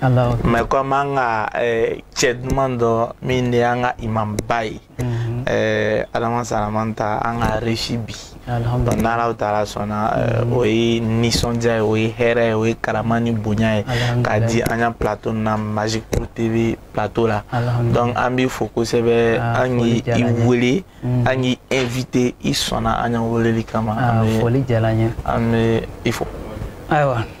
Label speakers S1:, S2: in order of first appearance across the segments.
S1: mɛ kɔmi an ka cɛ duman dɔ min de y'an ka imamba ye adama salamanta an k'a reçu bi donc n'alahu taala sɔnna o ye nisɔndiya ye o ye hɛrɛ ye o ye karama ni bonya ye k'a di an ka plateau na magic pro tv plateau la donc an b'i fo kosɛbɛ an k'i wele an k'i invité i sɔnna an ka weleli kama an bɛ
S2: i fo
S1: ayiwa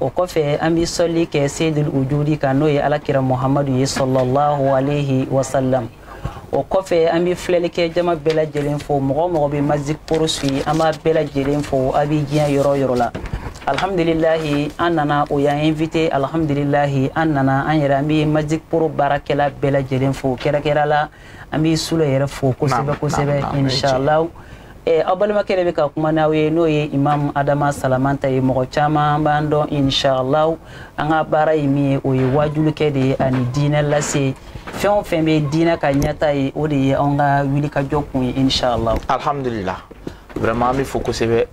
S2: o kɔfɛ an bɛ sɔli kɛ seydul wujudi kan n'o ye alakira muhamadu ye sɔlɔlahu alehi wasalam o kɔfɛ an bɛ filɛlikɛ jama bɛɛ lajɛlen fo mɔgɔ o mɔgɔ bɛ magic pro suivi an b'a bɛɛ lajɛlen fo a bɛ diɲɛ yɔrɔ yɔrɔ la alhamdulilahi an nana o y'an invité alhamdulilahi an nana an yɛrɛ an bɛ magic pro baarakɛla bɛɛ lajɛlen fo kɛrɛnkɛrɛn la an b'i sule yɛrɛ fo kosɛbɛ kosɛbɛ inshallah eh, aw balimakɛ de bɛ ka kuma n'aw ye n'o ye imam adama salamanta ye mɔgɔ caman b'an dɔn inshallah an ka baara ye min ye o ye waajulikɛ de ye ani diinɛ lase fɛn o fɛn bɛ diinɛ ka ɲɛtaa ye o de ye anw ka wulikajɔ kun ye inshallah alhamdulillah
S1: vraiment an b'i fo kosɛbɛ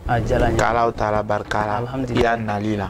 S1: k'alahu taala barika la i ya nali la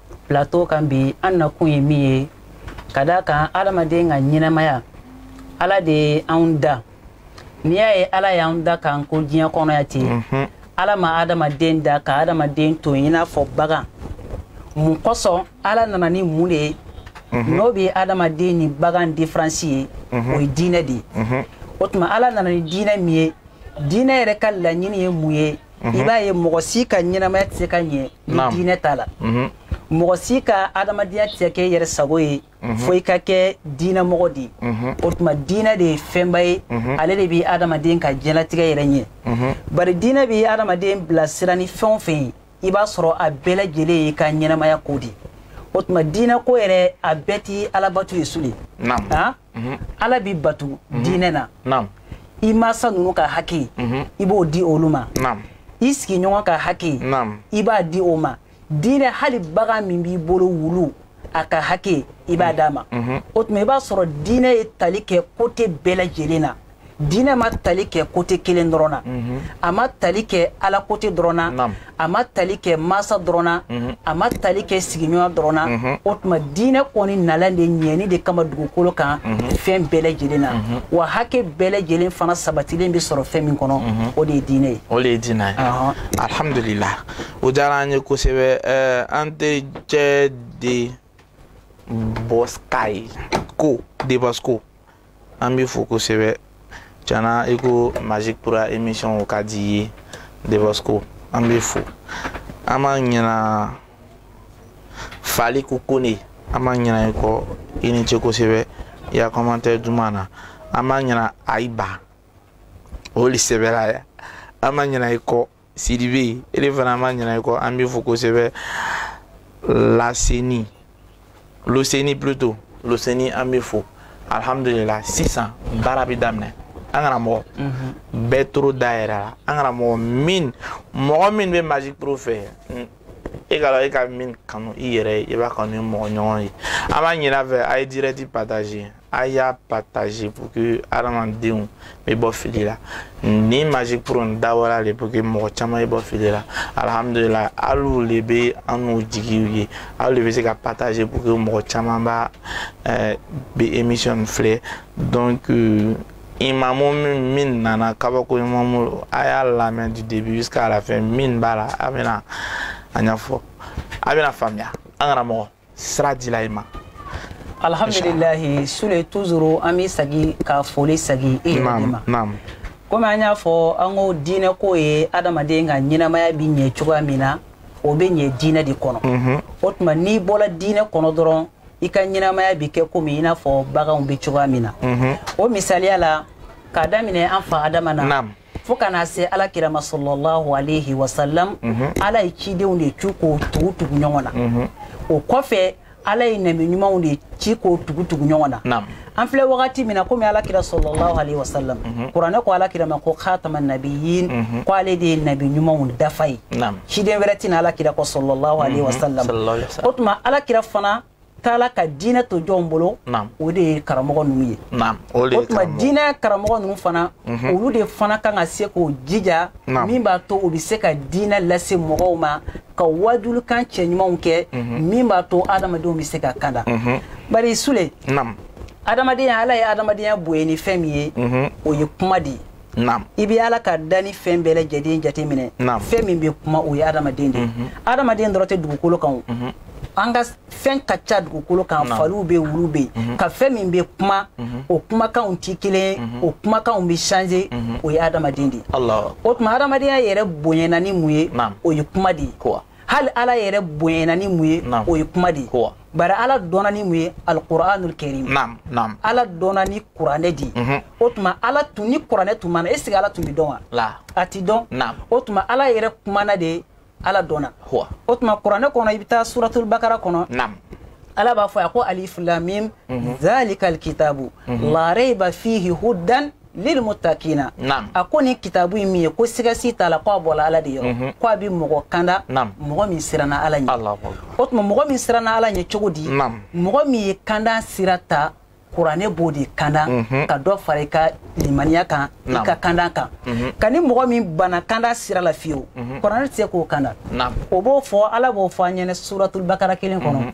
S2: plateau kan bi an nakun ye min ye ka d'a kan adamaden ka ɲɛnamaya ala de ye anw da n'i y'a ye ala y'an da k'an ko diɲɛ kɔnɔ yan ten mhm. ala ma adamaden da ka adamaden to i n'a fɔ bagan mun kosɔn ala nana ni mun de ye mhm. n'o bɛ adamaden ni bagan diferansi ye mhm. o ye diinɛ de ye o tuma ala nana ni diinɛ min ye diinɛ yɛrɛ ka laɲini ye mun ye i b'a ye mɔgɔ si ka ɲɛnamaya tɛ se ka ɲɛ ni diinɛ t'a la mɔgɔ si ka adamadenya tɛ se ka kɛ yɛrɛ sago ye fo i ka kɛ diinɛmɔgɔ de ye o tuma diinɛ de ye fɛnba ye ale de bɛ adamaden ka diɲɛlatigɛ yɛrɛ ɲɛ bari diinɛ bɛ adamaden bila sira ni fɛn o fɛn ye i b'a sɔrɔ a bɛɛ lajɛlen y'i ka ɲɛnamaya ko de ye o tuma diinɛ ko yɛrɛ a bɛɛ tɛ alabato ye sule mhm. ala bɛ batu mhm. diinɛ na i masa ninnu ka haki mhm. i b'o di olu ma i sigiɲɔgɔn ka haki i b'a di o ma diinɛ hali bagan min b'i bolo wulu a ka haki i b'a d'a ma o tuma i b'a sɔrɔ diinɛ ye tali kɛ kote bɛɛ lajɛlen na diinɛ ma tali kɛ kote kelen dɔrɔn na mhm. a ma tali kɛ ala kote dɔrɔn na a ma tali kɛ masa dɔrɔn na mhm. a ma tali kɛ sigiɲɔgɔn dɔrɔn na mhm. o tuma diinɛ kɔni nalen de ɲɛni de kama dugukolo kan fɛn bɛɛ lajɛlen na wa hakɛ bɛɛ lajɛlen fana sabatilen bɛ sɔrɔ fɛn min kɔnɔ o de ye diinɛ ye o de ye diinɛ
S1: ye alhamdulila o diyara an ye kosɛbɛ eh, an tericɛ de bɔska ye ko debasko an b'i fo kosɛbɛ can na i ko magic pro émission o ka di i ye de bosco an b'i fo an ma ɲina fali ko kone an ma ɲina i kɔ i ni ce kosɛbɛ i ya commentaire duman na an ma ɲina ayiba o le sɛbɛra yan an ma ɲina i kɔ sidibe e de fana an ma ɲinɛ i kɔ an b'i fo kosɛbɛ laseni loseni plutôt loseni an b'i fo alhamdulila sisan baara bɛ daminɛ an karamɔgɔ mhm. bɛ toro dayɛlɛ la an karamɔgɔ min mɔgɔ min bɛ magic pro fɛ e ka dɔn e ka min kanu i yɛrɛ ye i b'a kanu i mɔgɔɲɔgɔn ye an b'a ɲin'a fɛ a ye direct partager a y'a partager pour que hadamadenw bɛ bɔ fili la ni magic pro nin dabɔra de pour que mɔgɔ caman bɛ bɔ fili la alihamudulila alu le bɛ annu jigi ye alu le bɛ se ka partager pour que mɔgɔ caman b'a ɛɛ bɛ émission nin filɛ donc. Euh, imamu min min nana kabako imamu a y'a lamɛn du début jusqu'à la fin min b'a la a bɛna a ɲɛfɔ a bɛna faamuya an karamɔgɔ sira dila i ma
S2: alhamdulilahi sule toujours an bɛ sagi ka foli sagi i yɛrɛ de ma komi an y'a fɔ an ko diinɛ ko ye adamaden ka ɲɛnamaya bi ɲɛ cogoya min na o bɛ ɲɛ diinɛ de kɔnɔ mhm. o tuma n'i bɔra diinɛ kɔnɔ dɔrɔn i ka ɲɛnamaya bɛ kɛ komi i n'a fɔ baganw bɛ cogoya min na mhm. o misaliya la k'a daminɛ an fa adama na fo ka na se ala kira ma sɔlɔlahu alehi wasalam mhm. ala ye cidenw de ci k'o tugu tugu ɲɔgɔn na mhm. o kɔfɛ ala ye nabi ɲumanw de ci k'o tugu tugu ɲɔgɔn na an filɛ wagati min na komi ala kira sɔlɔlahu alehi wasalam mhm. kuranɛ ko ala kira ma ko khatama nabiyin ko ale de ye nabi ɲumanw dafa ye ciden wɛrɛ tɛ na ala kira kɔ sɔlɔlahu alehi wasalam o tuma ala kira fana taala ka diinɛ to jɔnw bolo o de ye karamɔgɔ ninnu ye o tuma diinɛ karamɔgɔ ninnu fana mhm. olu de fana kan ka se k'o jija min b'a to u bɛ se ka diinɛ lase mɔgɔw ma ka wajulikan cɛɲumanw kɛ mhm. min b'a to adamadenw bɛ se ka kanda mhm. bari sule adamadenya ala ye adamadenya bonya ni fɛn min ye o ye kuma de ye naam i bɛ ala ka dannifɛn bɛɛ lajɛlen jateminɛ naam fɛn min bɛ kuma o ye adamaden de ye mhm. adamaden dɔrɔn tɛ dugukolo kan o mhm. an ka fɛn ka ca dugukolo kan faliw bɛ wulu bɛ yen mhm. nka fɛn min bɛ kuma o kumakanw tɛ kelen o kumakanw bɛ changer o ye adamaden de ye o tuma adamadenya yɛrɛ bonyana ni mun ye o ye kuma de ye hali ala yɛrɛ bonyana ni mun ye o ye kuma de ye bari ala dɔnna ni mun ye alquranul karim ala dɔnna ni kuranɛ de ye o tuma ala tun ni kuranɛ tun ma na est-ce que ala tun bɛ dɔn wa a ti dɔn o tuma ala yɛrɛ kumana de ala dɔnna o tuma kuranɛ kɔnɔ i bɛ taa suratul bakara kɔnɔ ala b'a fɔ a ko alif lam mim dhalika alkitabu la rayba fihi hudan lil muttaqina a ko nin kitabu in min ye ko sigasi t'a la ko a bɔla ala de yɔrɔ mhm. ko a bɛ mɔgɔ kanda mɔgɔ min siranna ala ɲɛ o tuma mɔgɔ min siranna ala ɲɛ cogo di mɔgɔ min ye kanda sira ta kuranɛ b'o de kanda mhm. ka dɔ fara i ka limaniya kan i ka kanda kan mhm. ka ni mɔgɔ min bana kanda sira la fiyewu kuranɛ tɛ se k'o kanda o b'o fɔ ala b'o fɔ an ɲɛna suratul bakara kelen kɔnɔ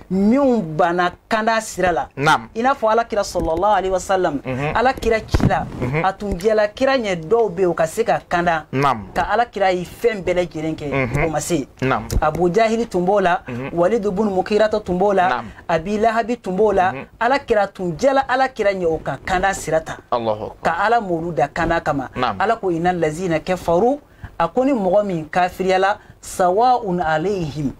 S2: minnu banna kanda sira la i n'a fɔ ala kira sallallahu alayhi wasallam mhm. ala kira ci la mhm. a tun diyala kira ɲɛ dɔw bɛ u ka se ka kanda ka ala kira ye fɛn bɛɛ lajɛlen kɛ mhm. o ma se abu jahili tun b'o la walidu bunu mukirata tun b'o la abi lahabi tun b'o la ala kira a tun diyala ala kira ɲɛ o ka kanda sira ta ka ala m'olu da kanda kama ala ko inna lazina kafaru a ko ni mɔgɔ min kafiriyala sawaun alayhim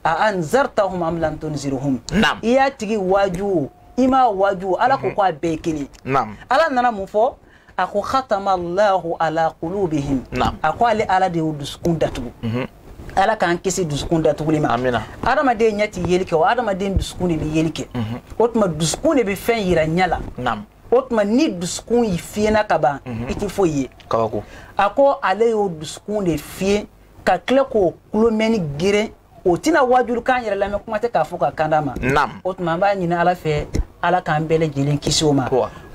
S2: a anzartahum am lam tunzirhum naam i y'a tigi waaju o i m'a waaju o ala ko mhm. ko a bɛɛ kelen naam ala nana mun fɔ a ko khatama allahu ala qulubihim naam a ko ale ala de y'o dusukun datugu mhm. ala k'an kisi dusukun datuguli ma amina adamaden
S1: ɲɛ ti
S2: yeli kɛ o adamaden dusukun de bɛ yeli kɛ mhm. o tuma dusukun de bɛ fɛn yira ɲɛ la naam o tuma
S1: ni
S2: dusukun in fiyenna ka ban i tɛ foyi ye kabako a ko
S1: ale
S2: y'o dusukun de fiyen ka tila k'o kulo mɛnni geren o tɛna waajuli kan yɛrɛ lamɛn kuma tɛ k'a fɔ ka kanda ma naam o tuma an b'a ɲini
S1: ala
S2: fɛ ala k'an bɛɛ lajɛlen kisi o ma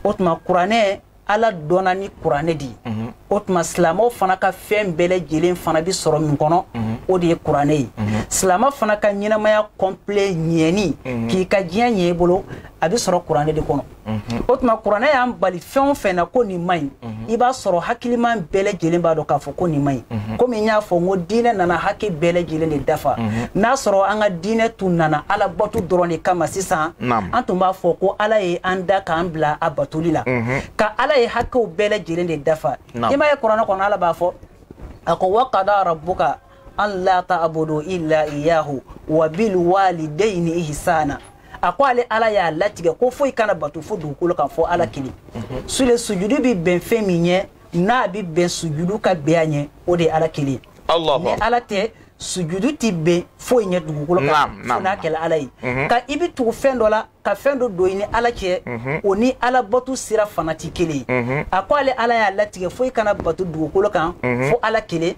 S2: o tuma kuranɛ ala dɔnna ni kuranɛ de ye mhm. o tuma silamɛw fana ka fɛn bɛɛ lajɛlen fana bɛ sɔrɔ min kɔnɔ mhm. o de ye kuranɛ ye mhm. silamɛ fana ka ɲɛnamaya complet ɲɛni k'i ka diɲɛ ɲɛ i bolo a bɛ sɔrɔ kuranɛ de kɔnɔ mhm. o tuma kuranɛ y'an bali fɛn o fɛn na ko nin man ɲi mhm. i b'a sɔrɔ hakiliman bɛɛ lajɛlen b'a dɔn k'a fɔ ko nin man ɲi mhm. komi n y'a fɔ n ko diinɛ nana hakɛ bɛɛ lajɛlen de dafa n'a sɔrɔ an ka diinɛ tun nana ala bato dɔrɔn de kama sisan an tun b'a fɔ ko ala ye an da k'an bila a batoli la ka ala ye hakɛw bɛɛ lajɛlen de dafa i m'a ye kuranɛ kɔnɔ ala b'a fɔ a ko wa qada rabbuka an la ta'budu illa iyyahu wa bil walidayni ihsana a ko ale ala y'a latigɛ ko foyi kana bato fo dugukolo kan fo ala kelen mhm. sule sujudu bɛ bɛn fɛn min ɲɛ n'a bɛ bɛn sujudu ka bɛn a ɲɛ o de ye ala kelen ni ala tɛ sujudu tɛ bɛn foyi ɲɛ dugukolo kan fo n'a kɛla ala ye ka i bɛ tugu fɛn dɔ la ka fɛn dɔ don i ni ala cɛ mhm. o ni ala bato sira fana tɛ kelen ye mhm. a ko ale ala y'a latigɛ foyi kana bato dugukolo kan mhm. fo ala kelen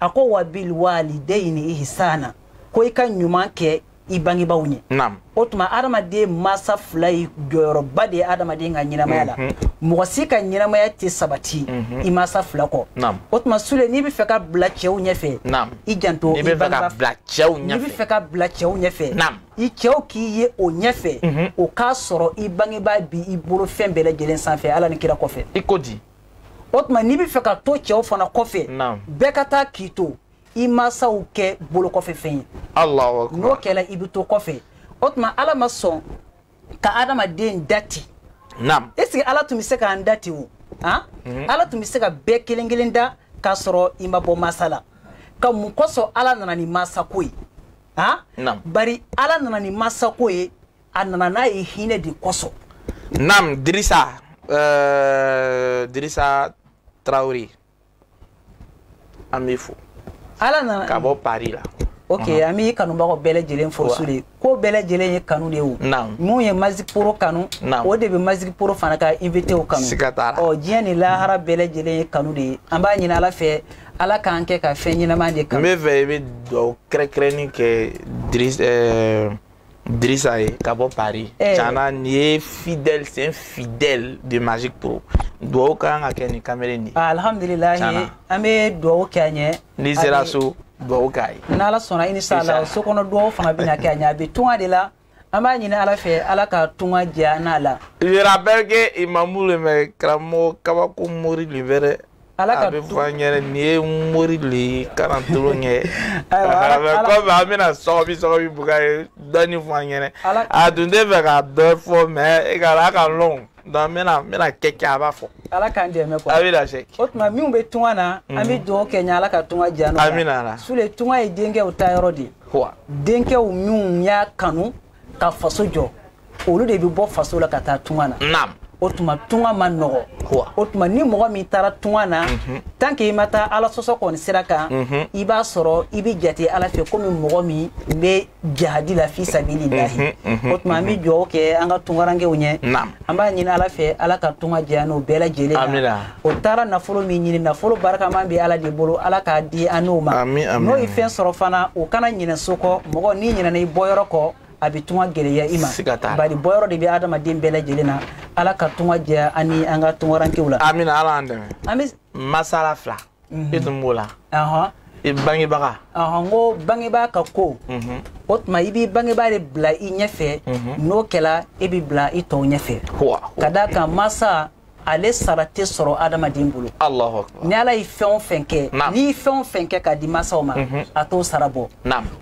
S2: a ko wa bil walidayini ihsana ko i ka ɲuman kɛ i bangebaaw ɲɛ o tuma adamaden masa fila ye jɔyɔrɔba de ye adamaden ka ɲɛnamaya la mɔgɔ si ka ɲɛnamaya tɛ sabati i masa fila kɔ o tuma sule n'i bɛ fɛ ka bila cɛw ɲɛfɛ i janto i bangebaa n'i bɛ fɛ ka bila cɛw ɲɛfɛ i cɛw k'i ye o ɲɛfɛ mhm. o k'a sɔrɔ i bangebaa bi i bolo fɛn bɛɛ lajɛlen sanfɛ ala ni kira kɔfɛ i ko
S1: di o tuma n'i bɛ
S2: fɛ ka to cɛw fana kɔfɛ bɛɛ ka taa k'i to i masaw kɛ bolo kɔfɛ fɛn ye n'o kɛla i bɛ to kɔfɛ o tuma ala ma sɔn ka adamaden da ten est ce que ala tun bɛ se k'an da ten o han mhm. ala tun bɛ se ka bɛɛ kelen kelen da k'a sɔrɔ i ma bɔ masa la ka mun kosɔn ala nana ni masako ye han naam bari ala nana ni masako ye a nana n'a ye hinɛ de kosɔn naam dirisa
S1: euh, dirisa tarawele an b'i fo ala nana
S2: ka bɔ paris
S1: la ok an
S2: b'i kanubagaw bɛɛ lajɛlen fo sule ko bɛɛ lajɛlen ye kanu de ye o minw ye magic pro kanu o de bɛ magic pro fana ka invité o kanu siga t'a la ɔ diɲɛ ni lahara bɛɛ lajɛlen ye kanu de ye an b'a ɲini ala fɛ ala k'an kɛ ka fɛn ɲɛnama de kanu n bɛ fɛ i bɛ
S1: dugawu kɛrɛnkɛrɛnnin kɛ dirisa eh, dirisa ye ka bɔ paris eh. can na nin ye fidèle c'est un fidèle de magic pro dugawu ka kan ka kɛ nin kamele nin ye ah,
S2: alhamdulilahi an bɛ dugawu kɛ a ɲɛ n'i sera so
S1: dugawu k'a ye n'ala sɔnna inshallah
S2: so kɔnɔ dugawu fana bɛna kɛ a ɲɛ a bɛ tunga de la an b'a ɲini ala fɛ ala ka tunga diya n'a la je
S1: rappelle que imamu le mais karamɔgɔ kabako mori le bɛrɛ a bɛ fɔ an ɲɛna nin ye mori le ye kana tolo ɲɛ kɔmi an bɛna sɔgɔbi sɔgɔbi buga ye dɔɔni fɔ an ɲɛna a tun tɛ fɛ ka dɔ fɔ mais e ka a ka lɔn donc n bɛna n bɛna kɛ kɛ a b'a fɔ. ala k'an dɛmɛ quoi.
S2: a bɛ lase. o tuma
S1: minnu bɛ
S2: tunga na. an bɛ dugawu kɛ ɲɛ ala ka tunga diya n'o la. amina ala. sule tunga ye
S1: denkɛw
S2: taayɔrɔ de ye. wa. denkɛw minnu y'a kanu ka faso jɔ olu de bɛ bɔ faso la ka taa tunga na. naam. o tuma tunga ma nɔgɔ. wa. o tuma ni mɔgɔ min taara tunga na. Mhm. tant que i ma taa ala sɔsɔ kɔni sira kan. Mhm. i b'a sɔrɔ i bɛ jate ala fɛ komi mɔgɔ min bɛ. jihadi la fi sabilillahi o tuma an bɛ dugawu kɛ an ka tungarankew ɲɛ an b'a ɲini ala fɛ ala ka tunga diya n'o bɛɛ lajɛlen na o taara nafolo min ɲini nafolo barikaman bɛ ala de bolo ala k'a di an n'o ma n'o ye fɛn sɔrɔ fana o kana ɲinɛ so kɔ mɔgɔ n'i ɲinɛna i bɔyɔrɔ kɔ a bɛ tunga gɛlɛya i ma bari bɔyɔrɔ de bɛ adamaden bɛɛ lajɛlen na ala ka tunga diya an ni an ka tungarankew la amina ala an dɛmɛ
S1: an bɛ masala fila mhm. i tun b'o la i bangebaga n
S2: ko bangebaa ka ko mhm. o tuma i b'i bangebaa de bila i ɲɛfɛ mhm. n'o kɛla i bɛ bila i tɔw ɲɛfɛ ka d'a kan masa ale sara tɛ sɔrɔ adamaden bolo ni ala ye fɛn o fɛn kɛ n'i ye fɛn o fɛn kɛ k'a di masaw ma mhm. a t'o sara bɔ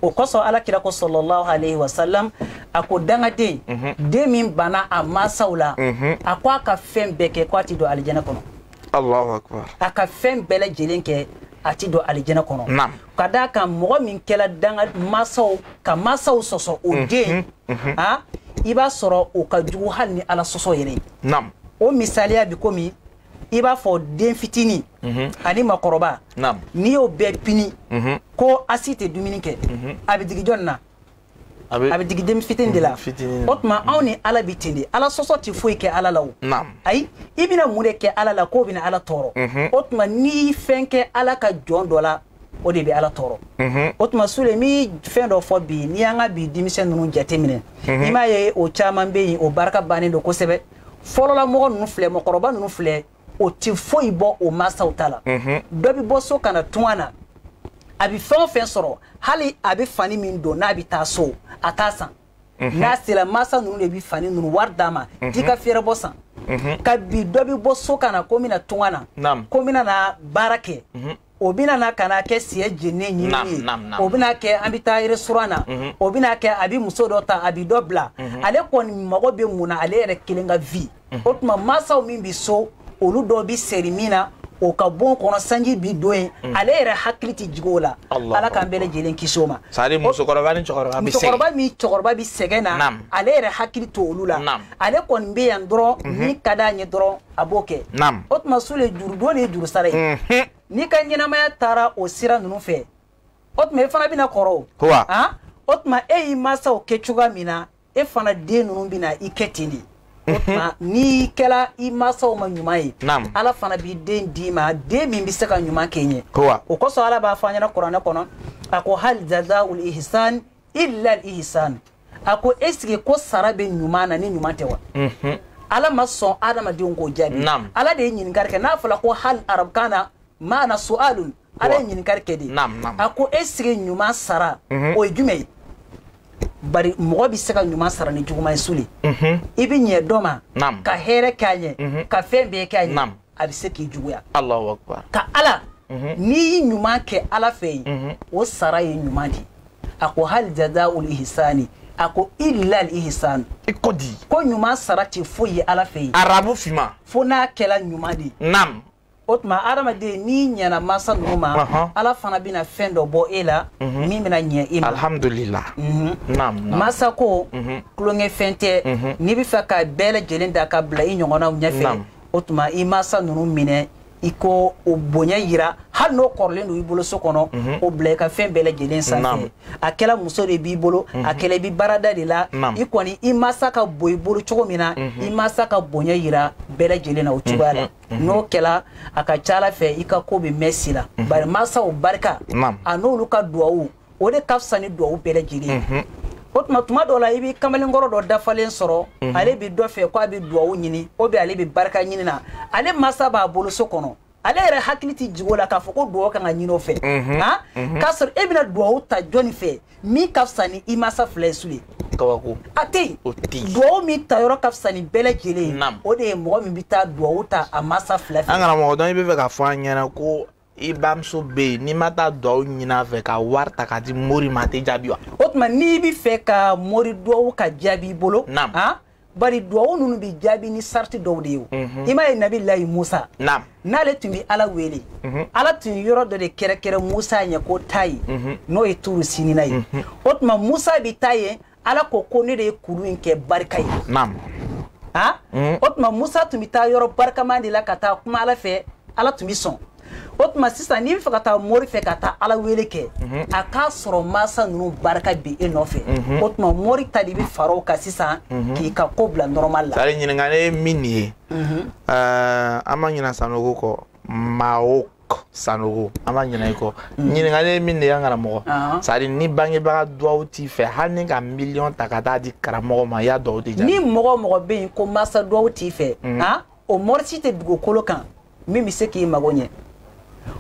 S2: o kosɔn ala kira ko sallallahu alayhi wa sallam a ko dangaden den min banna a masaw la a ko a ka fɛn bɛɛ kɛ ko a ti don alijɛnɛ kɔnɔ Allahu akbar a ka fɛn bɛɛ lajɛlen kɛ a ti don alijɛnɛ kɔnɔ Naam. ka d'a kan mɔgɔ min kɛla danga masaw ka masaw sɔsɔ o mhm, den mhm. a i b'a sɔrɔ o ka jugu hali ni ala sɔsɔ yɛrɛ ye Naam. o misaliya bi komi i b'a fɔ den fitini mhm. ani makɔrɔba n'i y'o bɛɛ pini ko a si tɛ dumuni kɛ a bɛ digi jɔn na a bɛ digi den fitini de la mm, o tuma anw ni ala bɛ ten de ala sɔsɔ tɛ foyi kɛ ala la o ayi i bɛna mun de kɛ ala la k'o bɛna ala tɔɔrɔ mhm. o tuma n'i fɛn kɛ ala ka jɔn dɔ la o de bɛ ala tɔɔrɔ mhm. o tuma sule n bɛ fɛn dɔ fɔ bi n'i y'an ka bi denmisɛn ninnu jateminɛ mhm. i m'a ye o caman bɛ yen o barika bannen don kosɛbɛ fɔlɔla mɔgɔ ninnu filɛ mɔgɔkɔrɔba ninnu filɛ o tɛ foyi bɔ o mansaw ta la mhm. dɔ bɛ bɔ so ka na tunga na a bɛ fɛn o fɛn sɔrɔ hali a bɛ fani min don n'a bɛ taa so a t'a san mhm. n'a sera mansa ninnu de bɛ fani ninnu wari d'a ma mhm. t'i ka fɛɛrɛbɔ san ka bi dɔ bɛ bɔ so ka na ko n bɛna tunga na ko n bɛna na baara kɛ o bɛna na ka na kɛ siyɛ jennen ɲinini ye o bɛna kɛ an bɛ taa restaurant na mhm. o bɛna kɛ a bɛ muso dɔ ta a bɛ dɔ bila mhm. ale kɔni mago bɛ mun na ale yɛrɛ kelen ka vie mhm. o tuma mansaw min bɛ so olu dɔw bɛ seri min na o ka bon kɔnɔ sanji bi don yen mm. ale yɛrɛ hakili tɛ jigin o la ala k'an bɛɛ lajɛlen kisi o ma musokɔrɔba ni
S1: cɛkɔrɔba bɛ sɛgɛn
S2: na ale yɛrɛ hakili t'olu la ale kɔni bɛ yan dɔrɔn mhm. min ka d'a ɲɛ dɔrɔn a b'o kɛ naam o tuma sule jurudon de ye jurusara ye mhm. n'i ka ɲɛnamaya taara o sira ninnu fɛ o tuma e fana bɛna kɔrɔ o ah? o tuma e y'i mansaw kɛ cogoya min na e fana den ninnu bɛna i kɛ ten de o mhm. tuma n'i kɛla i mansaw ma ɲuman ye ala fana b'i den d'i ma den min bɛ se ka ɲuman kɛ i ɲɛ o kosɔn ala b'a fɔ an ɲɛna kuranɛ kɔnɔ a ko hal jazaul ihsan illal ihsan a ko est ce que ko sara bɛ ɲuman na ni ɲuman tɛ wa mhm. ala ma sɔn adamadenw k'o jaabi ala de ye ɲininkali kɛ n'a fɔla ko hal arabukan na maana su'alun ala ye ɲininkali kɛ de a ko est ce que ɲuman sara mhm. o ye jumɛn ye bari mɔgɔ bɛ se ka ɲuman sara ni juguman ye sule mhm. i bɛ ɲɛ dɔ ma ka hɛrɛ k'a ɲɛ ka fɛn bɛɛ k'a ɲɛ a bɛ se k'i juguya ka ala n'i ye ɲuman kɛ ala fɛ yen o sara ye ɲuman de ye a ko hal jazaul ihsani a ko illa al ihsan i ko di
S1: ko ɲuman sara
S2: tɛ foyi ye ala fɛ yen arabu finman fo
S1: n'a kɛla
S2: ɲuman de ye nam o tuma hadamaden n'i ɲɛna mansa ninnu ma Ɔhɔn. ala fana bɛna fɛn dɔ bɔ e la min bɛna ɲɛ e ma alhamdulillah Mhm.
S1: nam
S2: nam mansa ko Mhm. tulonkɛfɛn tɛ Mhm. n'i bɛ fɛ ka bɛɛ lajɛlen da ka bila i ɲɔgɔnnaw ɲɛfɛ Naam. o tuma i mansa ninnu minɛ i ko o bonya yira hali n'o kɔrɔlen don i bolo so kɔnɔ mhm. o bila i ka fɛn bɛɛ lajɛlen sanfɛ a kɛla muso de b'i bolo a mhm. kɛla i bi baarada de la i kɔni i masa ka bon i bolo cogo min na mhm. i masa ka bonya yira bɛɛ lajɛlen na o cogoya la n'o kɛla a ka ca ala fɛ i ka ko bɛ mɛn si la bari masaw barika a n'olu ka duwawu o de ka fisa ni duwawu bɛɛ lajɛlen ye mhm. o tuma tuma dɔw la i bɛ kamalenkɔrɔ dɔ dafalen sɔrɔ mhm. ale bɛ dɔ fɛ ko a bɛ duwawu ɲini o bɛ ale bɛ barika ɲini na ale masa b'a bolo so kɔnɔ ale yɛrɛ hakili tɛ jigi o la k'a fɔ ko duwawu kan ka ɲini o fɛ mhm. ah? k'a sɔrɔ e bɛna duwawu ta jɔni fɛ min ka fisa ni i masa fila ye sule kabako a tɛ yen duwawu min ta yɔrɔ ka fisa ni bɛɛ lajɛlen ye o de ye mɔgɔ min bɛ taa duwawu ta a masa fila fɛ an karamɔgɔ dɔnki i bɛ fɛ k'a fɔ
S1: an ɲɛna ko i bamuso bɛ yen n'i ma taa duwawu ɲini a fɛ ka wari ta k'a di mori ma a tɛ jaabi wa. o tuma n'i bɛ fɛ
S2: ka mori duwawu ka jaabi i bolo. naam han ah, bari duwawu ninnu bɛ jaabi ni sariti dɔw de ye o. Mhm. i m'a ye nabilayi musa. naam n'ale tun bɛ ala wele. Mhm. ala tun ye yɔrɔ dɔ de kɛrɛkɛrɛ musa ɲɛ ko taa yen. Mhm. n'o ye turu sinina ye. o tuma musa bɛ taa yen. ala ko ko ne de ye kuru in kɛ barika ye naam ha mm. o tuma musa tun bɛ taa yɔrɔ barikaman de la ka taa kuma ala fɛ ala tun bɛ sɔn o tuma sisan n'i bɛ fɛ ka taa mori fɛ ka taa ala wele kɛ mhm. a k'a sɔrɔ mansa ninnu barika bi e nɔfɛ mhm. o tuma mori ta de bɛ fara o kan sisan mhm. k'i ka ko bila nɔrɔmali la. sari ɲininkali ye min ye
S1: eh, an ma ɲinɛ sanogo kɔ maa o sanogo an ma ɲinɛ i kɔ mm. ɲininkali ye min de y'an karamɔgɔ uh-huh. sari ni bangebaga duwawu t'i fɛ hali n'i ka miliyɔn ta ka taa di karamɔgɔ ma i y'a duwawu tɛ jaabi ni mɔgɔ mɔgɔ bɛ yen
S2: ko masa duwawu t'i fɛ mm. ah, o mɔri si tɛ dugukolo kan min bɛ se k'i mago ɲɛ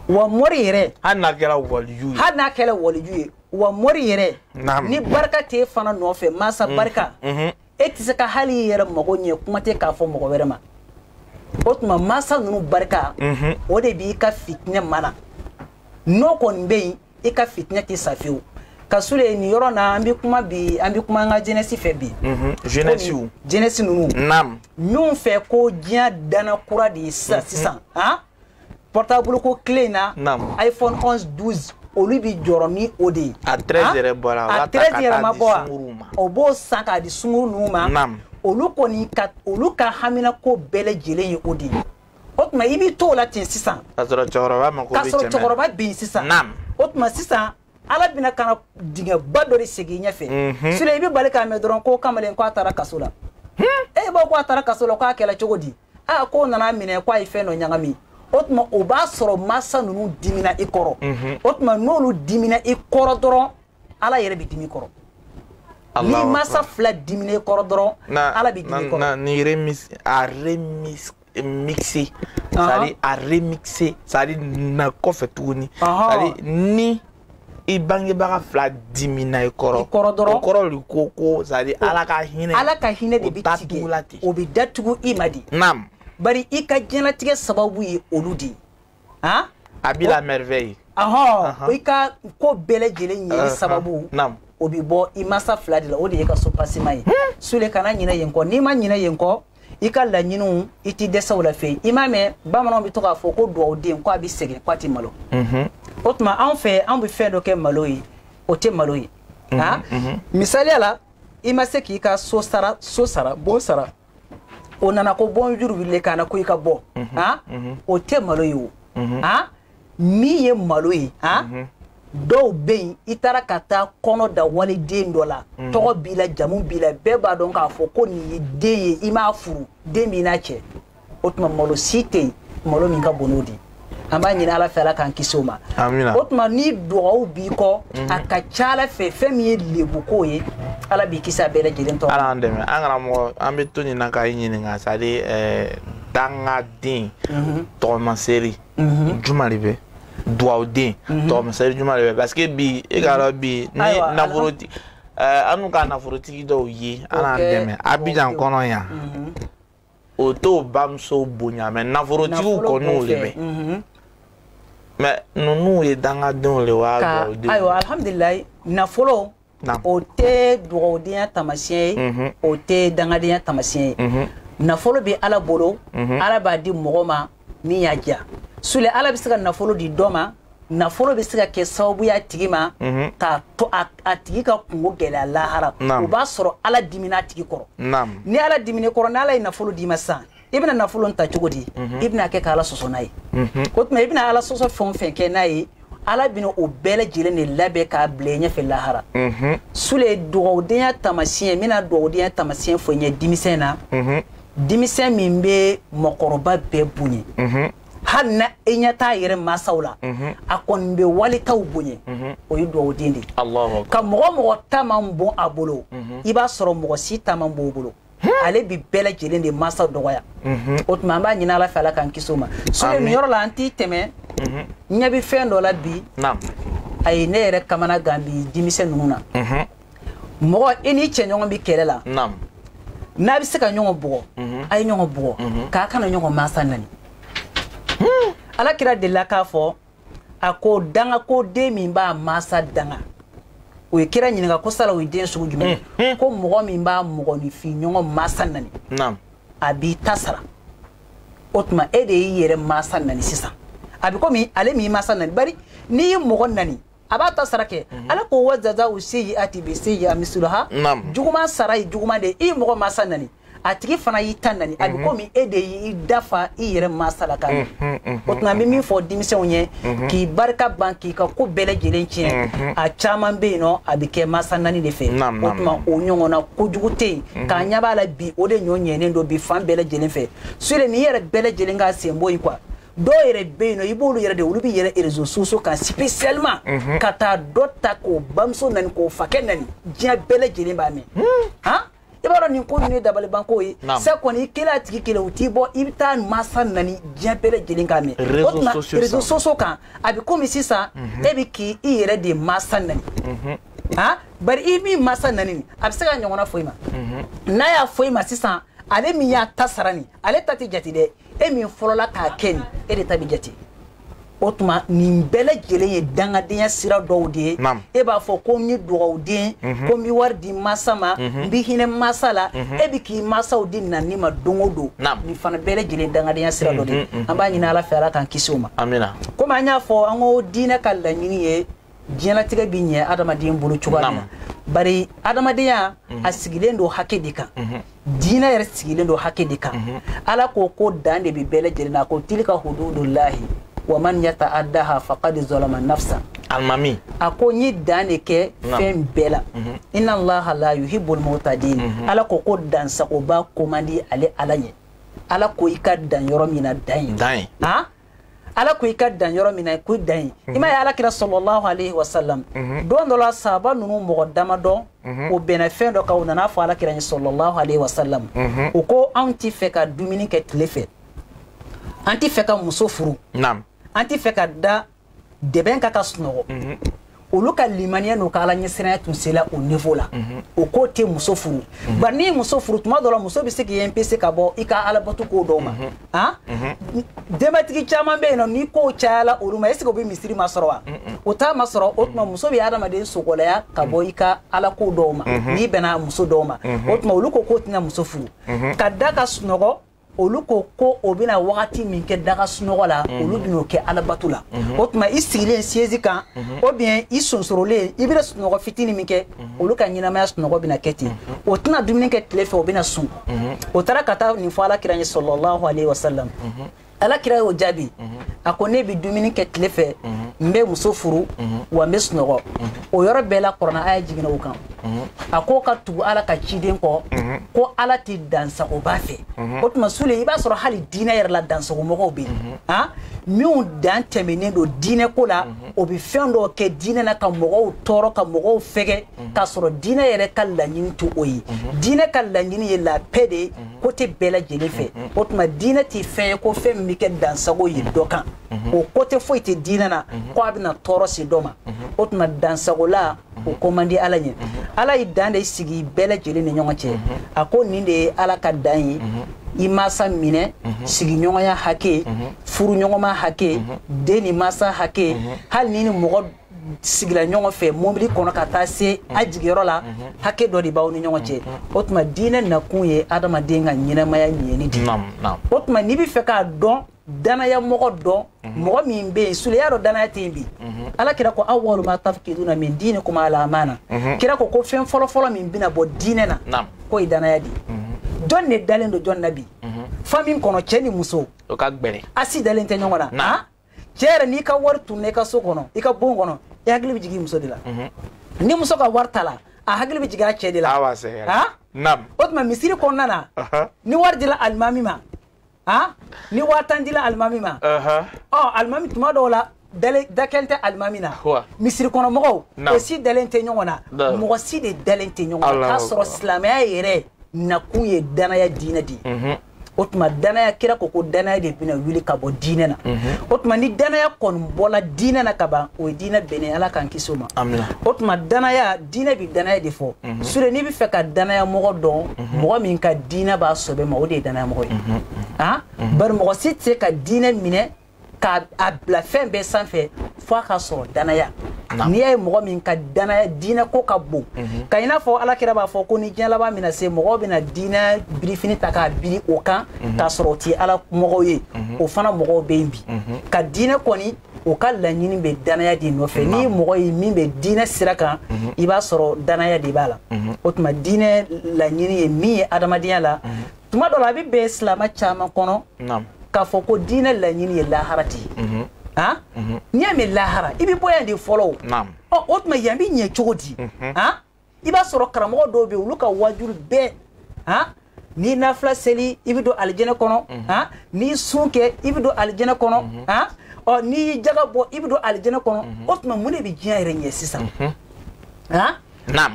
S2: wa mɔri yɛrɛ hali n'a kɛra waliju
S1: ye hali n'a kɛra waliju ye wa mɔri yɛrɛ ni barika t'e fana nɔfɛ masa mm. barika mm-hmm. e tɛ se ka hali i yɛrɛ mago ɲɛ kuma tɛ k'a fɔ mɔgɔ wɛrɛ ma o tuma mansa ninnu barika mhm. o de b'i ka fitinɛ mana n'o kɔni bɛ yen i ka fitinɛ tɛ sa fewu ka sule nin yɔrɔ na an bɛ kuma bi an bɛ kuma an ka jɛnɛsi fɛ bi mhm. jɛnɛsiw jɛnɛsi ninnu naam minnu fɛ ko diɲɛ dana kura de ye sisan mhm. sisan han portable ko clé in na iphone 11 12 olu bi jɔrɔ ni o de ye a 13 yɛrɛ bɔra a 13 yɛrɛ ma bɔ
S2: wa o b'o san k'a di sunguru ninnu ma olu kɔni olu ka haminanko bɛɛ lajɛlen ye o de ye o tuma i b'i to o la ten sisan k'a sɔrɔ cɛkɔrɔba
S1: mako bɛ cɛmɛ k'a sɔrɔ cɛkɔrɔba bɛ yen
S2: sisan o tuma sisan ala bɛna ka na dingɛba dɔ de segin i ɲɛfɛ mhm. sule i bɛ bala k'a mɛn dɔrɔn ko kamalen ko a taara kaso la hmm? e b'a fɔ ko a taara kaso la k'a kɛra cogo di aa ah, k'o nan'a minɛ k'a ye fɛn dɔ ɲagami o tuma o b'a sɔrɔ mansa ninnu dimina i kɔrɔ mhm. o tuma n'olu dimina i kɔrɔ dɔrɔn ala yɛrɛ bɛ dimi i kɔrɔ n'i mansa fila dimina i kɔrɔ dɔrɔn ala bɛ dimi i kɔrɔ ni remis
S1: a remis mixé c'est-à-dire a remixé c'est-à-dire na kɔfɛ tuguni c'est-à-dire ni i bangebaga fila dimina i kɔrɔ kɔrɔ dɔrɔn o kɔrɔ de ko ko c'est-à-dire ala ka hinɛ ala ka hinɛ de bɛ tigɛ i la
S2: ten o bɛ datugu i ma dɛ naam bari i ka diɲɛlatigɛ sababu ye olu de ye
S1: han a b'i la merveille ahɔn o i
S2: ka ko bɛɛ lajɛlen ɲɛli sababu naam o bɛ bɔ i mansa fila de la o de ye ka so pasima ye hmm. sule kana ɲinɛ yen kɔ n'i ma ɲinɛ yen kɔ i ka laɲiniw i tɛ dɛsɛ u la fewu i m'a mɛn bamananw bɛ to k'a fɔ ko dugawuden ko a bɛ sɛgɛn ko a tɛ malo mhm. o tuma anw fɛ anw bɛ fɛn dɔ kɛ malo ye o tɛ malo ye mhm, ah? mhm. misaliya la i ma se k'i ka so sara so sara bon sara o nana ko bon juru b'i la ka na ko i ka bɔ ah? o tɛ malo ye o ah? min ye malo ye han mhm. dɔw bɛ yen i taara ka taa kɔnɔ da waliden dɔ la mhm. tɔgɔ b'i la jamu b'i la bɛɛ b'a dɔn k'a fɔ ko nin y'i den ye i m'a furu den b'i n'a cɛ o tuma malo si tɛ yen malo min ka bon n'o de ye an b'a ɲini ala fɛ ala k'an kisi o ma o tuma ni dugawu b'i kɔ mhm. a ka ca a la fɛ fɛn min ye lebuko ye ala b'i kisi a bɛɛ lajɛlen tɔgɔ ala an dɛmɛ an karamɔgɔ
S1: an bɛ to nin na k'i ɲininka c'est-à-dire eh, dangaden mhm. tɔgɔmaseri mhm. juma de bɛ duwawuden mhm. tɔgɔmaseri juma de bɛ parce que bi e k'a dɔn bi ni nafolotigi eh, annu ka nafolotigi dɔw ye ala an dɛmɛ abijan kɔnɔ yan mhm. o t'o bamuso bonya mais nafolotigiw kɔni o de bɛ mais ninnu ye dangadenw de wa duwawuden ayiwa alihamudulilayi
S2: nafolo o tɛ dugawudenya tamasiyɛn ye mhm. o tɛ dangadenya tamasiyɛn ye mhm. nafolo bɛ ala bolo mhm. ala b'a di mɔgɔ ma min y'a diya sule ala bɛ se ka nafolo di dɔ ma nafolo bɛ se ka kɛ sababu y'a tigi ma k'a to a tigi ka kunko gɛlɛya lahara o b'a sɔrɔ ala dimina a tigi kɔrɔ ni ala dimina i kɔrɔ ni ala ye nafolo d'i ma sisan i bɛna nafolo ta cogo di mhm. i bɛna kɛ ka ala sɔsɔ n'a ye mhm. o tuma i bɛna ala sɔsɔ fɛn o fɛn kɛ n'a ye ala bɛna o bɛɛ lajɛlen de labɛn k'a bila i ɲɛfɛ lahara mhm. sule dugawudenya tamasiyɛn n bɛna dugawudenya tamasiyɛn fɔ i ɲɛ denmisɛn na denmisɛn min bɛ mɔgɔkɔrɔba bɛɛ bonya hali na e ɲɛ t'a yɛrɛ masaw la mhm. a kɔni bɛ walitaw bonya mhm. o ye dugawuden de ye ka mɔgɔ o mɔgɔ ta man bon a bolo mhm. i b'a sɔrɔ mɔgɔ si ta man bon o bolo ale bi bɛɛ lajɛlen de masa dɔgɔya mhm. o tuma an b'a ɲini ala fɛ ala k'an kisi o ma sule nin yɔrɔ la an t'i tɛmɛ mhm. n ɲɛ bɛ fɛn dɔ la bi a ye ne yɛrɛ kamana gan bi denmisɛn ninnu na mhm. mɔgɔ i n'i cɛɲɔgɔn bɛ kɛlɛ la n'a bɛ se ka ɲɔgɔn bugɔ a ye ɲɔgɔn bugɔ k'a kana ɲɔgɔn masa nani hmm. ala kira delila k'a fɔ a ko danga ko den min b'a masa danga u ye kira ɲininka ko sala o ye den sugu jumɛn hmm, hmm. ko mɔgɔ min b'a mɔgɔninfin ɲɔgɔn masa nani a b'i ta sara o tuma e de y'i yɛrɛ masa nani sisan a bɛ komi ale min masa nani bari n'i ye mɔgɔ nani a b'a ta sara kɛ mhm. ala ko wa jaza'u sayyi'ati bi sayyi'a misluha juguman sara ye juguman de i ye mɔgɔ masa nani a tigi fana y'i ta nani a bɛ mhm. komi e de y'i dafa i yɛrɛ masa la ka ɲɛ mhm, mhm, o tuma an bɛ min fɔ denmisɛnw ye k'i barika ban k'i ka ko bɛɛ lajɛlen tiɲɛ a caman bɛ yen nɔ a bɛ kɛ masa nani de fɛ o tuma o ɲɔgɔnna kojugu tɛ yen k'a ɲɛ b'a la bi o de ɲɔ ɲɛnen don bi fan bɛɛ lajɛlen fɛ sule nin yɛrɛ bɛɛ lajɛlen ka sen bɔ yen quoi dɔw yɛrɛ bɛ yen nɔ i b'olu yɛrɛ de olu bɛ yɛrɛ réseaux sociaux kan spécialement ka taa dɔ ta k'o bamuso nani k'o fakɛ nani diɲɛ bɛɛ lajɛlen b'a mɛn han i b'a dɔn nin ko ninnu ye dabalibanko ye sa kɔni i kelen a tigi kelen u t'i bɔ i bɛ taa masa nani diɲɛ bɛɛ lajɛlen k'a mɛn o tuma réseaux sociaux kan a bɛ komi sisan mhm. e bɛ k'i yɛrɛ de masa nani mhm. ah, bari i min masa nani nin a bɛ se k'a ɲɔgɔnna fɔ i ma mhm. n'a y'a fɔ i ma sisan ale min y'a ta sara nin ale ta tɛ jate dɛ e min fɔlɔla k'a kɛ nin e de ta bɛ jate o tuma nin bɛɛ lajɛlen ye dangadenya sira dɔw de ye e b'a fɔ ko n ye dugawuden mhm. ko n bɛ wari di masa ma mhm. n bɛ hinɛ masa la mhm. e bɛ k'i masaw di nani ma don o don nin fana bɛɛ lajɛlen ye dangadenya sira dɔ de ye an b'a ɲini ala fɛ ala k'an kisi o ma amiina komi an y'a fɔ an ko diinɛ ka laɲini ye diɲɛlatigɛ bɛ ɲɛ adamaden bolo cogoya min na bari adamadenya mhm. a sigilen don hakɛ de kan mhm. diinɛ yɛrɛ sigilen don hakɛ de kan mhm. ala ko ko dan de bɛ bɛɛ lajɛlen na ko tilka hududullahi wa man yata'addaha faqad zalama nafsa alimami
S1: a ko n ye
S2: dan de kɛ fɛn bɛɛ la inna allaha la yuhibbul mu'tadin ala ko ko dansagoba k'o man di ale ala ɲɛ ala ko i ka dan yɔrɔ min na dan yen dan yen ala ko i ka dan yɔrɔ min na ko dan ye i ma ye ala kira sɔlɔlahu alayhi wa salam don dɔ la sahaba ninnu mɔgɔ dama dɔ o bɛnna fɛn dɔ kan u nana fɔ ala kira ye sɔlɔlahu alayhi wa salam o ko anw ti fɛ ka dumuni kɛ tile fɛ an ti fɛ ka muso furu an ti fɛ ka da dɛbɛn kan ka sunɔgɔ olu ka limaniya n'u ka ala ɲɛsiranya tun sela o niveau la mhm. o k'o tɛ muso furu mhm. bari n'i ye muso furu tuma dɔ la muso bɛ se k'i empêcher ka bɔ i ka alabato ko dɔw ma mhm. ah? denbatigi caman bɛ yen nɔ ni kow cayala olu ma est-ce que o bɛ misiri masɔrɔ wa o t'a masɔrɔ o tuma muso bɛ adamaden sogolaya ka bɔ i ka ala ko dɔw ma n'i bɛnna muso dɔw ma o tuma olu ko k'o tɛna muso furu ka da ka sunɔgɔ olu ko ko o bɛna wagati min kɛ da ka sunɔgɔ la mhm. olu bɛn'o kɛ alabato la mhm. o tuma i sigilen siège kan mhm. ou bien i sonsorolen i bɛna sunɔgɔ fitini min kɛ olu ka ɲɛnamaya sunɔgɔ bɛna kɛ ten o tɛna dumuni kɛ tile fɛ o bɛna sun o taara ka taa nin fɔ ala kira ye sɔlɔlahu alayhi wa sallam ala kira y'o jaabi a ko ne bɛ dumuni kɛ tile fɛ n bɛ muso furu wa n bɛ sunɔgɔ o yɔrɔ bɛɛ la kuranɛ aya jiginna o kan a ko ka tugu ala ka ciden kɔ ko ala tɛ dansagobaa fɛ o tuma sule i b'a sɔrɔ hali diinɛ yɛrɛ la dansagomɔgɔw bɛ yen a minnu dan tɛmɛnen don diinɛ ko la o bɛ fɛn dɔw kɛ diinɛ na ka mɔgɔw tɔɔrɔ ka mɔgɔw fɛgɛ k'a sɔrɔ diinɛ yɛrɛ ka laɲini tɛ o ye diinɛ ka laɲini ye la paix de ye côté bɛɛ lajɛlen fɛ o tuma diinɛ tɛ fɛn ye ko fɛn min bɛ kɛ dansago ye dɔ kan mhm. o côté foyi tɛ diinɛ na mhm. ko a bɛna tɔɔrɔ se dɔ ma mhm. o tuma dansagola o ko man di ala ɲɛ ala ye dan de sigi bɛɛ lajɛlen ni ɲɔgɔn cɛ a ko nin de ye ala ka dan ye i mansa minɛ sigiɲɔgɔnya hakɛ furuɲɔgɔnma hakɛ den ni mansa hakɛ hali n'i ni mɔgɔ sigila ɲɔgɔn fɛ mobili kɔnɔ ka taa se a jigiyɔrɔ la hakɛ dɔ de b'aw ni ɲɔgɔn cɛ o tuma diinɛ nakun ye adamaden ka ɲɛnamaya ɲɛni de o tuma n'i bɛ fɛ k'a dɔn danaya mɔgɔ dɔn mhm. mɔgɔ min bɛ yen sule y'a dɔn danaya tɛ yen bi mhm. ala kira ko awwalu ma tafkiduna min diinikum al amana mhm. kira ko ko fɛn fɔlɔfɔlɔ min bɛna bɔ diinɛ na k'o ye danaya de jɔn de dalen don jɔn na bi famille kɔnɔ cɛ ni muso o ka gbɛrɛ
S1: a si dalen tɛ
S2: ɲɔgɔn na ah? cɛ yɛrɛ n'i ka wari tununna i ka so kɔnɔ i ka bon kɔnɔ i hakili bɛ jigin muso de la ni muso ka wari tala a hakili bɛ jigin a cɛ de la ah? o tuma misiri kɔnɔna na ni wari dila alimami ma han ni waa tan dila alimami ma ɔ alimami tuma dɔw la da kɛlen tɛ alimami na misiri kɔnɔ mɔgɔw o si dalen tɛ ɲɔgɔn na mɔgɔ si de dalen tɛ ɲɔgɔn na k'a sɔrɔ silamɛya yɛrɛ nakun ye danaya diinɛ de ye o tuma danaya kira ko ko danaya de bɛna wuli ka bɔ diinɛ na o tuma ni danaya kɔni bɔla diinɛ na ka ban o ye diinɛ binnen ala k'an kisi o ma o tuma danaya diinɛ bɛ danaya de fɔ mhm. sule n'i bɛ fɛ ka danaya mɔgɔ dɔn mhm. mɔgɔ min ka diinɛ b'a sɔbɛ ma o de ye danaya mɔgɔ ye mhm. ah? bari mɔgɔ si tɛ se ka diinɛ minɛ k'a bila fɛn bɛɛ sanfɛ fo a ka sɔrɔ danaya n'i y'a ye mɔgɔ min ka danaya diinɛ ko ka bon ka i n'a fɔ ala kira b'a fɔ ko ni diɲɛ laban bɛna se mɔgɔw bɛna diinɛ birifini ta k'a biri o kan k'a sɔrɔ o tɛ ala mɔgɔw ye o fana mɔgɔw bɛ yen bi ka diinɛ kɔni o ka laɲini bɛ danaya de nɔfɛ ni mɔgɔ ye min bɛ diinɛ sira kan mhm. i b'a sɔrɔ danaya de b'a la mhm. o tuma diinɛ laɲini ye min ye adamadenya la mhm. tuma dɔ la a bɛ bɛn silamɛ caman kɔnɔ k'a fɔ ko diinɛ laɲini ye lahara de ye han n'i y'a mɛn lahara i bɛ bɔ yan de fɔlɔ o ɔ o tuma yan bɛ ɲɛ cogo di han i b'a sɔrɔ karamɔgɔ dɔw bɛ olu ka waajuli bɛɛ han n'i nafila seli i bɛ don alijɛnɛ kɔnɔ mhm. han n'i sun kɛ i bɛ don alijɛnɛ kɔnɔ mhm. han ɔ n'i y'i jaga bɔ i bɛ don alijɛnɛ kɔnɔ mhm. o tuma mun de bɛ diɲɛ yɛrɛ ɲɛ sisan han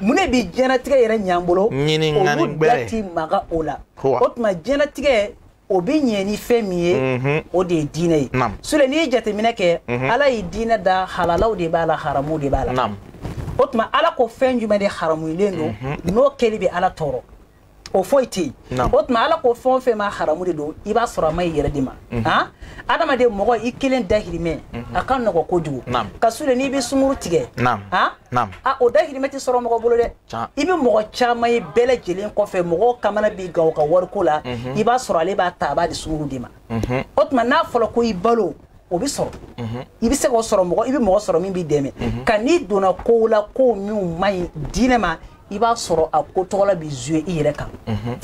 S2: mun de bɛ diɲɛnatigɛ yɛrɛ ɲɛ an bolo olu da ti maga o la o tuma diɲɛnatigɛ o bɛ ɲɛ ni fɛn min ye mhm. o de ye diinɛ ye sule n'i ye jateminɛ kɛ mhm. ala ye diinɛ da halalaw de b'a la haramuw de b'a la o tuma ala ko fɛn jumɛn de haramulen don mhm. n'o kɛli bɛ ala tɔɔrɔ o foyi tɛ yen o tuma ala ko fɛn o fɛn ma haramu de don i b'a sɔrɔ a man ɲi i yɛrɛ de ma han adamaden mɔgɔ i kelen dahirimɛ a ka nɔgɔ kojugu ka sule n'i bɛ sunguru tigɛ han naam a o dahirimɛ tɛ sɔrɔ mɔgɔ bolo dɛ Can. i bɛ mɔgɔ caman ye bɛɛ lajɛlen kɔfɛ mɔgɔw kamana bɛ gan o ka wariko la i b'a sɔrɔ ale b'a ta a b'a di sunguru de ma o tuma n'a fɔra ko i balo o bɛ sɔrɔ i bɛ se k'o sɔrɔ mɔgɔ i bɛ mɔgɔ sɔrɔ min b'i dɛmɛ ka n'i donna kow la kow minnu man ɲi diinɛ ma i b'a sɔrɔ a ko tɔgɔla bɛ jouer i yɛrɛ kan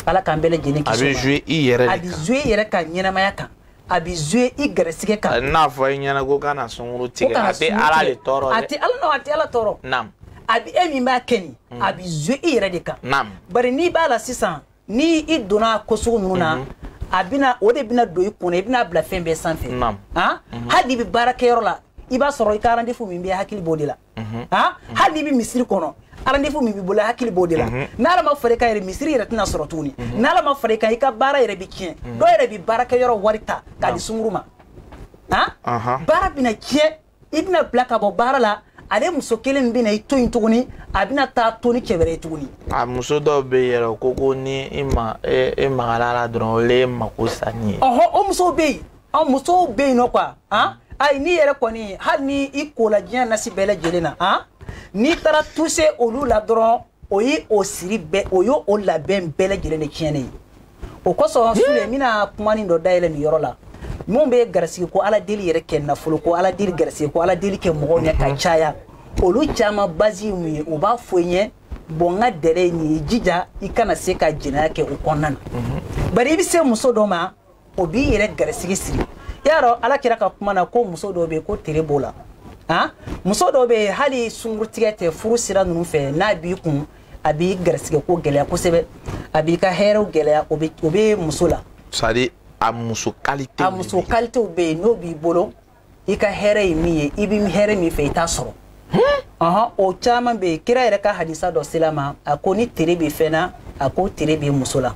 S2: ala k'an bɛɛ lajɛlen kisi o ma. a bɛ jouer i yɛrɛ
S1: de kan
S2: a bɛ
S1: jouer i yɛrɛ ka
S2: ɲɛnamaya kan a bɛ jouer i garisɛgɛ kan n'a fɔ i ɲɛna
S1: ko kana sunguru tigɛ a tɛ ala de tɔɔrɔ dɛ a tɛ ala nɔ a tɛ ala
S2: tɔɔrɔ naam a bɛ e min b'a kɛ nin mm. a bɛ jouer i yɛrɛ de kan naam bari n'i b'a la sisan ni i donna ko sugu ninnu na mm-hmm. a bɛna o de bɛna don i kun na i bɛna bila fɛn bɛɛ sanfɛ naam han mm-hmm. hali n'i bɛ baara kɛyɔrɔ la i b'a sɔrɔ i ka rendez-vous min bɛ hakili b'o de la hali n'i bɛ misiri kɔnɔ rendez-vous min b'i bolo hakili b'o de la n'ala ma fara i kan yɛrɛ misiri yɛrɛ tɛna sɔrɔ tuguni n'ala ma fara i kan i ka baara yɛrɛ bɛ tiɲɛ dɔw yɛrɛ bɛ baara kɛ yɔrɔ wari ta k'a di sunguru ma baara bɛna tiɲɛ i bɛna bila ka bɔ baara la ale muso kelen bɛna i to yen tuguni a bɛna taa to ni cɛ wɛrɛ ye tuguni. a muso dɔw
S1: bɛ yen yɛrɛ ko ko ni i ma e magara la dɔrɔn olu mako salen ye. ɔhɔ o musow bɛ yen.
S2: an musow bɛ yen nɔ quoi han ayi n'i yɛrɛ kɔni hali ni i kola diɲɛ nasi bɛɛ lajɛlen na han n'i taara toucher olu la dɔrɔn o ye o siri bɛɛ o ye o labɛn bɛɛ lajɛlen de tiɲɛnen ye o kosɔn sule n bɛna kuma nin dɔ dayɛlɛ nin yɔrɔ la minnu bɛ garisigi ko ala deli yɛrɛ kɛ nafolo ko ala deli garisigi ko ala deli kɛ mɔgɔw ɲɛ ka caya olu caman base ye mun ye u b'a fɔ i ɲɛ bon n ka dɛrɛ ye nin ye jija i kana se ka jɛnɛya kɛ o kɔnɔna na bari i bɛ se muso dɔ ma o b'i yɛrɛ garisigi siri y'a dɔn ala kira ka kuma na ko muso dɔw bɛ yen ko tere b'o la han muso dɔw bɛ yen hali sungurutigɛ tɛ furu sira ninnu fɛ n'a b'i kun a b'i garisigi ko gɛlɛya kosɛbɛ a b'i ka hɛrɛw gɛlɛya o bɛ o bɛ muso la. c'est à dire a
S1: muso kalitew. a muso kalitew bɛ yen
S2: n'o b'i bolo. i ka hɛrɛ ye min ye i bɛ hɛrɛ min fɛ i t'a sɔrɔ ɔhɔn o caman bɛ yen kira yɛrɛ ka hadisa dɔ sela ma a ko ni tere bɛ fɛn na a ko tere bɛ muso la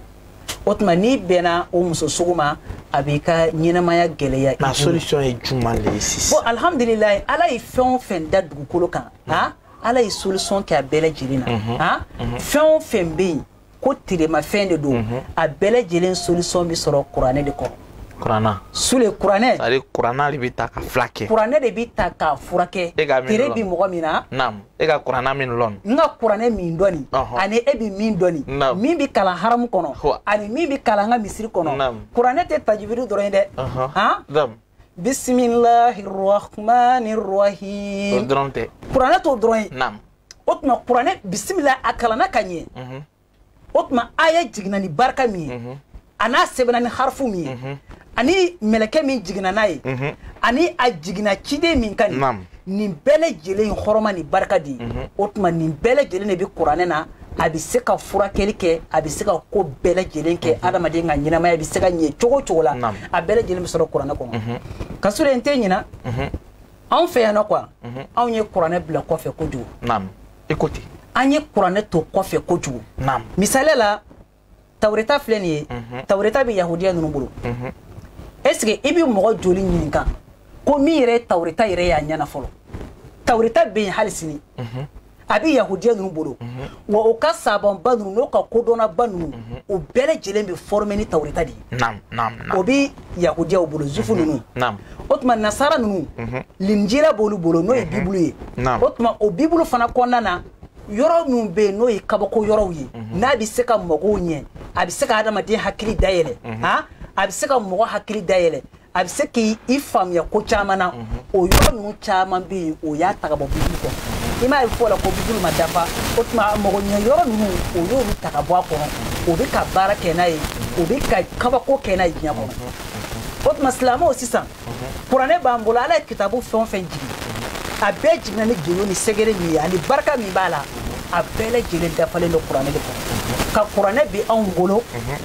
S2: o tuma n'i bɛnna o muso sugu ma a b'i ka ɲɛnamaya gɛlɛya i bolo. solution
S1: ye jumɛn de ye sisan. bon
S2: alhamdulilayi ala ye fɛn o fɛn da dugukolo kan han ala ye solution kɛ a bɛɛ lajɛlen na han fɛn o fɛn bɛ yen. ko teremafɛn de don mhm. a bɛɛ lajɛlen solution bɛ sɔrɔ kuranɛ de kɔnɔ
S1: kurana sule
S2: kuranɛ ale kurana de bɛ
S1: ta ka furakɛ kuranɛ de bɛ ta k'a
S2: furakɛ tere bi mɔgɔ min na naam e ka kurana
S1: min lɔn n ka kuranɛ min
S2: dɔn nin ani e bɛ min dɔn nin min bɛ kalan haramu kɔnɔ ani min bɛ kalan an ka misiri kɔnɔ kuranɛ tɛ tajiwidi dɔrɔn ye dɛ han bisimilahi rahmani rahim o dɔrɔn tɛ
S1: kuranɛ t'o dɔrɔn ye naam
S2: o tuma kuranɛ bisimila a kalanna ka ɲɛ mhm. o tuma aya jiginna ni barika min ye mhm. a n'a sɛbɛnna ni harifu min ye mhm. ani mɛlɛkɛ min jiginna n'a ye ani a jiginna ciden min kan nin nin bɛɛ lajɛlen hɔrɔma ni barika de ye o tuma nin bɛɛ lajɛlen de bɛ kuranɛ na a bɛ se ka furakɛli kɛ a bɛ se ka ko bɛɛ lajɛlen kɛ adamaden ka ɲɛnamaya bɛ se ka ɲɛ cogo cogo la a bɛɛ lajɛlen bɛ sɔrɔ kuranɛ kɔnɔ ka sɔrɔ n tɛ ɲina anw fɛ yan nɔ quoi mhm. anw ye kuranɛ bila kɔfɛ kojugu naam écoute
S1: an ye kuranɛ
S2: to kɔfɛ kojugu naam misaliya la tawureta filɛ nin ye mhm. tawureta bɛ yahudiya ninnu bolo mhm. est ce que i bɛ mɔgɔ joli ɲininka ko min yɛrɛ ye tawureta yɛrɛ y'a ɲɛ na fɔlɔ tawureta bɛ yen hali sini a bɛ yahudiya ninnu bolo wa o ka savantba ninnu n'o ka kodɔnnaba ninnu o bɛɛ lajɛlen bɛ former ni tawureta de ye o bɛ yahudiyaw bolo juif ninnu o tuma nasara ninnu linjira b'olu bolo n'o ye bibulu ye o tuma o bibulu fana kɔnɔna na yɔrɔ minw bɛ yen n'o ye kabako yɔrɔw ye n'a bɛ se ka mɔgɔw ɲɛ a bɛ se ka adamaden hakili dayɛlɛ a bɛ se ka mɔgɔ hakili dayɛlɛ a bɛ se k'i faamuya ko caman na mhm. o yɔrɔ ninnu caman bɛ yen o y'a ta ka bɔ bibulu kɔnɔ i m'a ye fɔ la ko bibulu ma dafa o tuma mago ɲɛ yɔrɔ ninnu o y'olu ta ka bɔ a kɔnɔ o bɛ ka baara kɛ n'a ye o bɛ ka kabako kɛ n'a ye diɲɛ kɔnɔ mhm. o tuma silamɛw sisan mhm. kuranɛ b'an bolo ala ye kitabu fɛn o fɛn jigin a bɛɛ jiginna ni gindo ni sɛgɛrɛ min ye ani barika min b'a la a bɛɛ lajɛlen dafalen don kuranɛ de kɔnɔ ka kuranɛ bi anw bolo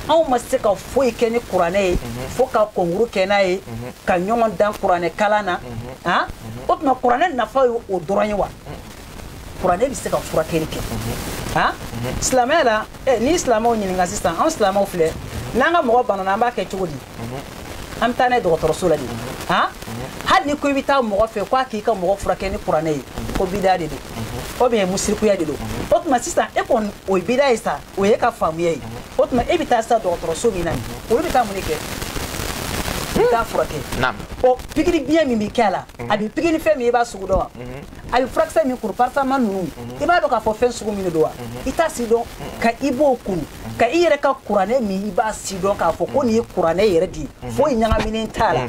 S2: anw ma se ka foyi kɛ ni kuranɛ ye mhm. fo ka konkuru kɛ n'a ye mhm. ka ɲɔgɔn dan kuranɛ kalan na mhm. ah? o tuma kuranɛ nafa ye o dɔrɔn ye wa kuranɛ bɛ se ka furakɛli kɛ ah? silamɛya la eh, ni silamɛw ɲininka sisan anw silamɛw filɛ n'an ka mɔgɔ banana an b'a kɛ cogo di an bɛ taa n'a ye dɔgɔtɔrɔso la de ah? hali ni ko i bɛ taa mɔgɔ fɛ k'a k'i ka mɔgɔ furakɛ ni kuranɛ ye ko bida de don o bɛɛ ye musirikuya de don o tuma sisan e kɔni o ye bida ye sa o y'e ka faamuya ye o tuma e bɛ taa sa dɔgɔtɔrɔso min na nin olu bɛ taa mun de kɛ i bɛ taa furakɛ ɔ pikiri biɲɛ min bɛ kɛ a la a bɛ pikiri fɛn min i b'a sugu dɔn wa a bɛ furakisɛ min kuru paracetamol ninnu i b'a dɔn k'a fɔ fɛn sugu min de don wa i t'a si dɔn ka i b'o kuru ka i yɛrɛ ka kuranɛ min i b'a si dɔn k'a fɔ ko nin ye kuranɛ yɛrɛ de ye foyi ɲagaminen t'a la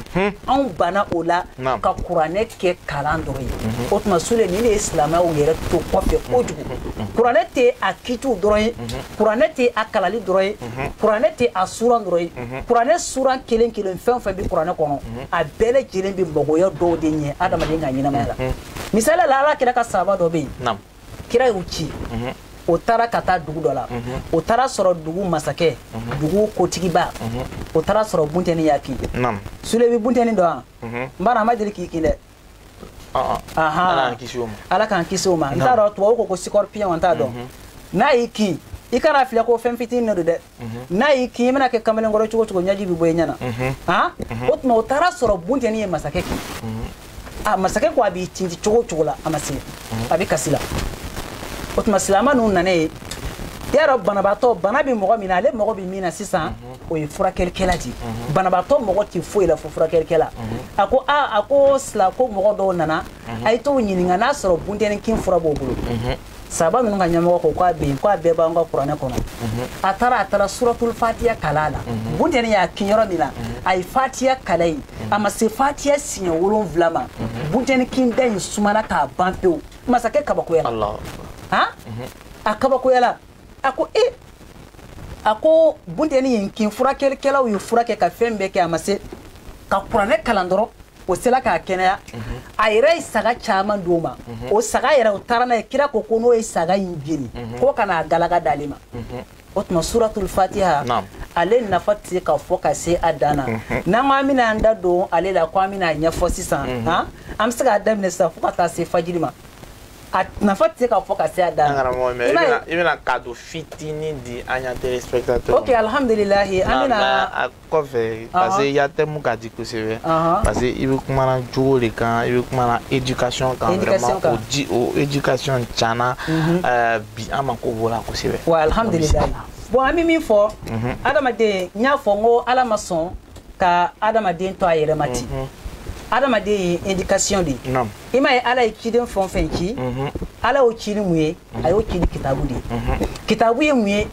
S2: anw banna o la ka kuranɛ kɛ kalan dɔrɔn ye o tuma sule nin de ye silamɛw yɛrɛ to kɔfɛ kojugu kuranɛ tɛ a kitiw dɔrɔn ye kuranɛ tɛ a kalali dɔrɔn ye kuranɛ tɛ a suran dɔrɔn ye kuranɛ suran kelen kelen fɛn o fɛn bɛ kuranɛ kɔnɔ a bɛɛ lajɛlen bɛ magoya dɔw de ɲɛ adamaden ka ɲɛnamaya la misali la ala kira ka sahaba dɔ bɛ yen kira y'u ci mhm. o taara ka taa dugu dɔ la mhm. o taara sɔrɔ dugu masakɛ mhm. dugu kotigiba o taara sɔrɔ buntɛni y'a kin sule bɛ buntɛni dɔn wa n b'a dɔn a ma deli k'i kin dɛ ah, ah. ala k'an kisi o ma n t'a dɔn tubabu ko ko scorpion n t'a dɔn n'a y'i kin i kana filɛ ko fɛn fitinin de don dɛ n'a y'i kin i mana kɛ kamalenkɔrɔ cogo cogo ɲɛji bɛ bɔ i ɲɛ na han o tuma o taara sɔrɔ buntɛni ye masakɛ kin a masakɛ ko a b'i tinti cogo cogo la a ma se a bɛ kasi la o tuma silamɛ ninnu nana yen i y'a dɔn banabaatɔ bana bɛ mɔgɔ min na ale mago bɛ min na sisan o ye furakɛlikɛla de ye banabaatɔ mago tɛ foyi la fo furakɛlikɛla a ko aa a ko sila ko mɔgɔ dɔw nana a ye t'o ɲininka n'a sɔrɔ buntɛni kin fura b'o bolo sahaba ninnu ka ɲɛmɔgɔ ko k'a bɛ yen k'a bɛɛ b'an ka kuranɛ kɔnɔ mhm. a taara a taara suratul fatiya kalan a la mhm. buntɛni y'a kin yɔrɔ min na mhm. a ye fatiya kalan yen a ma se fatiya siɲɛ wolonwula ma buntɛni kin da in sumana k'a ban pewu masakɛ kabakoyala han a kabakoyala a ko e a ko buntɛni ye n kin furakɛlikɛlaw ye furakɛ ka fɛn bɛɛ kɛ a ma se ka kuranɛ kalan dɔrɔn o sela k'a kɛnɛya mhm. a yɛrɛ ye saga caman d'o ma mhm. o saga yɛrɛ o taara n'a ye kira ko ko n'o ye saga in jeni mhm. ko ka n'a galaga d'ale ma o tuma suratul fatiha ale nafa tɛ se ka fɔ ka se a dan na n'an ko an bɛna an da don ale la ko an bɛna a ɲɛfɔ sisan an bɛ se k'a daminɛ sisan fo ka taa se fajiri ma a nafa tɛ se ka fɔ ka se a dan na i bɛna cadeau
S1: fitinin di an ya téléspectateurs ok alhamdulilahi
S2: an bɛna
S1: kɔfɛ parce que i ya thème ka di kosɛbɛ parce que i bɛ kumana jogo de kan i bɛ kumana éducation kan vraiment o di o éducation tiɲɛna bi an mako b'o la kosɛbɛ. wa alhamdulilayi
S2: bon an bɛ min fɔ adamaden n y'a fɔ n ko ala ma sɔn ka adamaden to a yɛrɛ ma ten adamaden ye éducation de ye i m'a ye ala ye ciden fɛn o fɛn ci ala y'o ci ni mun ye a y'o ci ni kitabu de ye kitabu ye mun ye.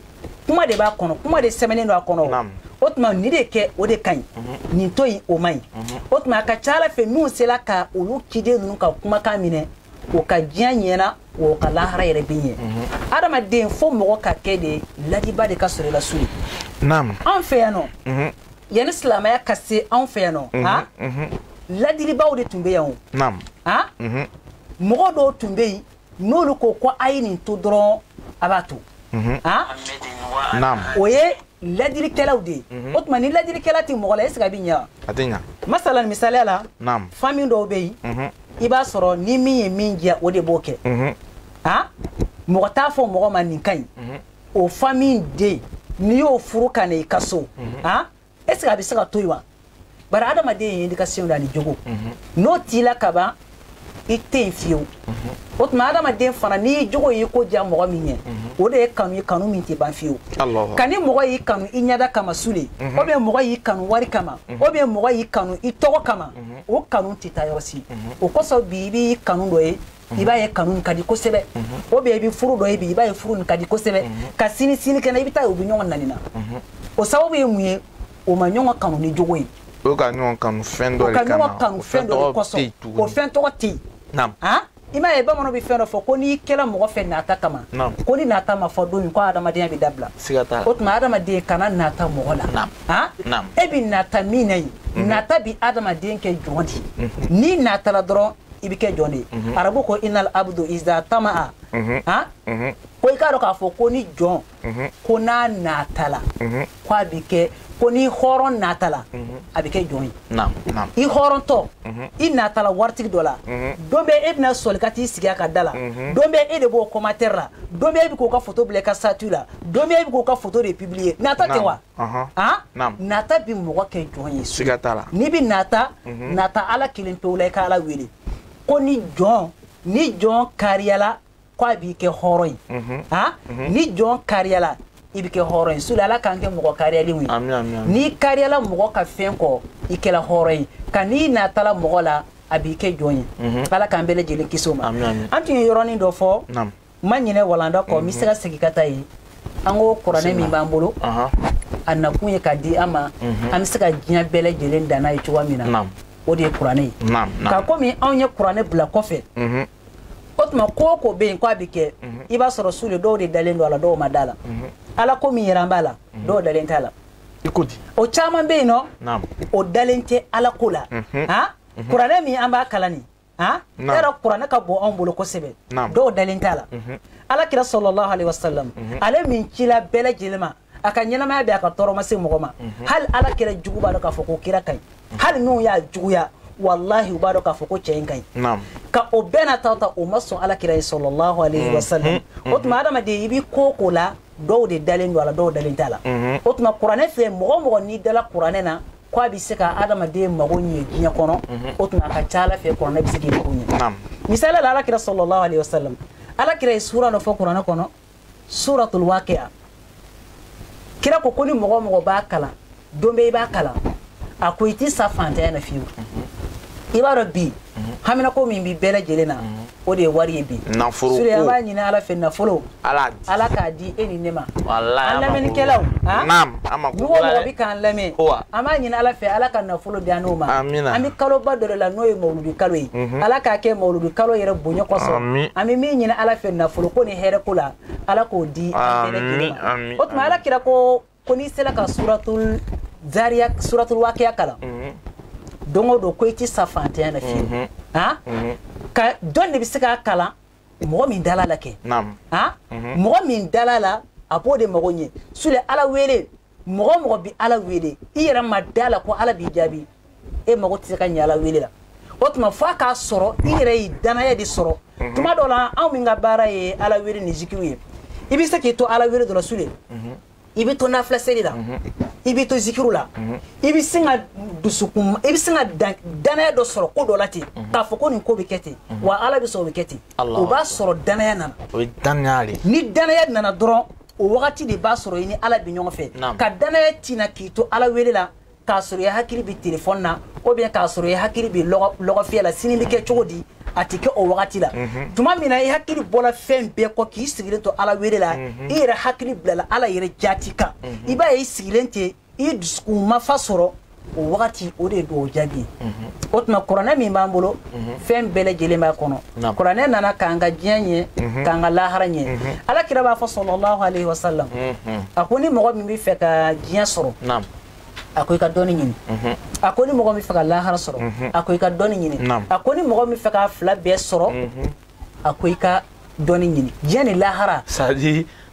S2: kuma de b'a kɔnɔ kuma de sɛbɛnnen don a kɔnɔ o tuma nin de kɛ o de ka ɲi mhm. nin to yen o man ɲi mhm. o tuma a ka c'a la fɛn minnu sela ka olu ciden ninnu ka kumakan minɛ o ka diɲɛ ɲɛna o ka lahara yɛrɛ bɛ ɲɛ mhm. adamaden fo mɔgɔ ka kɛ de ladiba de ka sɔrɔ i la sule anw fɛ yan nɔ yanni silamɛya ka se anw fɛ yan nɔ ha ladilibaw de tun bɛ yan o ha mɔgɔ dɔw tun bɛ yen n'olu ko ko a ye nin to dɔrɔn a b'a to mhm. o ye ladilikɛlaw de ye mhm. o tuma ni ladilikɛla tɛ mɔgɔ la est ce que a bɛ ɲɛ wa a tɛ ɲɛ
S1: masalan misaliya la
S2: famille dɔw bɛ yen mhm. i b'a sɔrɔ ni min ye min diya o de b'o kɛ a mɔgɔ t'a fɔ mɔgɔ ma nin ka ɲi o famille den n'i y'o furu ka na i ka so a est ce que a bɛ se ka to yen wa bari adamaden ye éducation de ani jogo mhm. n'o t'i la ka ban i tɛ yen fiyewu o tuma adamaden fana n'i jogo y'i ko diya mɔgɔ min ye o de ye kanu ye kanu min tɛ ban fiyewu ka ni mɔgɔ y'i kanu i ɲɛda kama sule ou bien mɔgɔ y'i kanu wari kama ou bien mɔgɔ y'i kanu i tɔgɔ kama o kanu tɛ taa yɔrɔ si o kosɔn bi i b'i kanu dɔ ye i b'a ye kanu nin ka di kosɛbɛ ou bien i bɛ furu dɔ ye bi i b'a ye furu nin ka di kosɛbɛ ka sini sinikɛnɛ i bɛ t'a ye u bɛ ɲɔgɔn nani na o sababu ye mun ye o ma ɲɔgɔn kanu ni jogo ye o ka ɲɔgɔn kanu
S1: fɛn dɔ de kama o ka ɲɔgɔn kanu fɛn dɔ de kosɔn o fɛn tɔgɔ
S2: tɛ yen i m'a ye bamananw bɛ fɛn dɔ fɔ ko n'i kɛra mɔgɔ fɛ nata kama ko ni nata ma fɔ don min ko adamadenya bɛ dabila o tuma adamaden kana nata mɔgɔ la e bɛ nata min na yen nata bɛ adamaden kɛ jɔn de ye n'i natala dɔrɔn i bɛ kɛ jɔn de ye mhm. arabu ko inal abdu iza tama'a mhm. han mhm. ko i k'a dɔn k'a fɔ ko ni jɔn ko n'a natala ko a bɛ kɛ ko ni hɔrɔn natala a bɛ kɛ jɔn ye i hɔrɔntɔ i natala waritigi dɔ la don bɛ e bɛna sɔli ka t'i sigi a ka da la don bɛ e de b'o commentaire la don bɛ e bɛ k'o ka photo bila i ka statut la don bɛ e bɛ k'o ka photo de publier nata tɛ wa Ah? nata bɛ mɔgɔ kɛ jɔn ye siga t'a la n'i
S1: bɛ nata
S2: mhm. nata ala kelen pewu la i ka ala wele ko ni jɔn ni jɔn kariyala ko a b'i kɛ hɔrɔn ye mhm. ah? mhm. ni jɔn kariyala i bɛ kɛ hɔrɔn ye sule ala k'an kɛ mɔgɔ kariyalenw ye n'i
S1: kariyala
S2: mɔgɔ ka fɛn kɔ i kɛla hɔrɔn ye ka n'i natala mɔgɔ la a b'i kɛ jɔn ye ala k'an bɛɛ lajɛlen kisi o ma an tun ye yɔrɔnin dɔ fɔ ma
S1: ɲinɛ
S2: walanda kɔ n bɛ se ka segin ka taa yen an ko kuranɛ min b'an bolo a nakun ye ka di an ma mhm. an bɛ se ka diɲɛ bɛɛ lajɛlen dan n'a ye cogoya min na o de ye kuranɛ
S1: ye
S2: ka komi
S1: anw ye
S2: kuranɛ bila kɔfɛ mhm. o tuma ko o ko bɛ yen ko a bɛ kɛ mhm. i b'a sɔrɔ sule dɔw de dalen don a la dɔw ma da la ala ko min yɛrɛ an b'a la dɔw dalen t'a la i ko di o
S1: caman bɛ yen
S2: n'o dalen
S1: tɛ
S2: ala ko la kuranɛ min an b'a kalan nin han e yɛrɛ kuranɛ ka bon anw bolo kosɛbɛ dɔw dalen t'a la mhm. ala kira sɔlɔlahu alaihi wasalam mhm. ale min cila bɛɛ lajɛlen ma a ka ɲɛnamaya bɛɛ a ka tɔɔrɔ ma se mɔgɔ ma mhm. hali ala kira jugu b'a dɔn k'a fɔ ko kira ka ɲi hali n'u y'a juguya walahi u b'a dɔn k'a fɔ ko cɛ in ka ɲi ka
S1: o bɛɛ n'a
S2: ta ta o ma sɔn ala kira ye sɔlɔlahu alaihi wasalam o tuma adamaden i bɛ ko o ko la dɔw de dalen don a la dɔw dalen t'a la o tuma kuranɛ filɛ mɔgɔ o mɔgɔ n'i dala kuranɛ na ko a bɛ se ka adamaden mago ɲɛ diɲɛ kɔnɔ mhm. o tuma a ka ca ala fɛ kuranɛ bɛ se k'i mago ɲɛ misali la
S1: alakira
S2: sɔlɔlahu alayhi wa sallam alakira ye suura dɔ fɔ kuranɛ kɔnɔ suuratul waqiya kira ko ko ni mɔgɔ o mɔgɔ b'a kalan don bɛɛ i b'a kalan a ko i ti sa fantanya na fiyewu mhm. i b'a dɔn bi mhm. haminako min bɛ bɛɛ lajɛlen na o de ye wari ye bi nafolo ko an
S1: b'a ɲini ala
S2: fɛ nafolo ala ala k'a
S1: di e ni ne
S2: ma an lamɛnnikɛlaw naam an ma
S1: mɔgɔ o mɔgɔ bɛ k'an lamɛn
S2: an b'a ɲini ala fɛ ala ka nafolo di an n'o ma an bɛ kaloba dɔ de la n'o ye mawuludi kalo ye mhm. ala k'a kɛ mawuludi kalo yɛrɛ bonya kosɔn an bɛ min ɲini ala fɛ nafolo ko ni hɛrɛ ko la ala k'o di an bɛɛ lajɛlen ma o tuma ala kira ko ko n'i sela ka suratul zariya suratul wakiya kalan mhm. don o don ko i ti sa fantanya na fiyewu mhm. ah? mhm. ka jɔn de bɛ se k'a kalan mɔgɔ min dala a la kɛ
S1: ah?
S2: mɔgɔ min dala a la a b'o de mago ɲɛ sule ala wele mɔgɔ o mɔgɔ bi ala wele i yɛrɛ ma da a la ko ala b'i jaabi e mago tɛ se ka ɲɛ ala wele la o tuma f'a k'a sɔrɔ i yɛrɛ ye danaya de sɔrɔ mhm. tuma dɔ la anw min ka baara ye ala wele ni zikiru ye i bɛ se k'i to ala wele dɔ la sule mhm. i bɛ to nafila seli la mhm. i bɛ to zikiru la i bɛ sin ka dusukun i bɛ sin ka danaya dɔ sɔrɔ ko dɔ la ten k'a fɔ ko nin ko bɛ kɛ ten wa ala bɛ sɔn o bɛ kɛ ten o b'a sɔrɔ danaya nana o ye danaya de
S1: ni danaya nana
S2: dɔrɔn o wagati de b'a sɔrɔ i ni ala bɛ ɲɔgɔn fɛ ka danaya ti na k'i to ala wele la k'a sɔrɔ i hakili bɛ telefɔni na ou bien k'a sɔrɔ i hakili bɛ lɔgɔfiyɛ la sini bɛ kɛ cogo di a tɛ kɛ o wagati la mhm. tuma min na i hakili bɔra fɛn bɛɛ kɔ k'i sigilen to ala wele la mhm. i yɛrɛ hakili bilala ala yɛrɛ jati kan mhm. i b'a ye i sigilen tɛ i dusukun mafa sɔrɔ o wagati o de don o jaabi o tuma kuranɛ min b'an bolo fɛn bɛɛ lajɛlen b'a kɔnɔ kuranɛ nana k'an ka diɲɛ ɲɛ k'an ka lahara ɲɛ ala kira b'a fɔ salalahu alayhi wa salam a ko ni mɔgɔ min bɛ fɛ ka diɲɛ sɔrɔ a ko i ka dɔnni ɲini mhm. a ko ni mɔgɔ min fɛ ka lahara sɔrɔ mhm. a ko i ka dɔnni ɲini a ko ni mɔgɔ min fɛ k'a fila bɛɛ sɔrɔ mhm. a ko i ka dɔnni ɲini diɲɛ ni lahara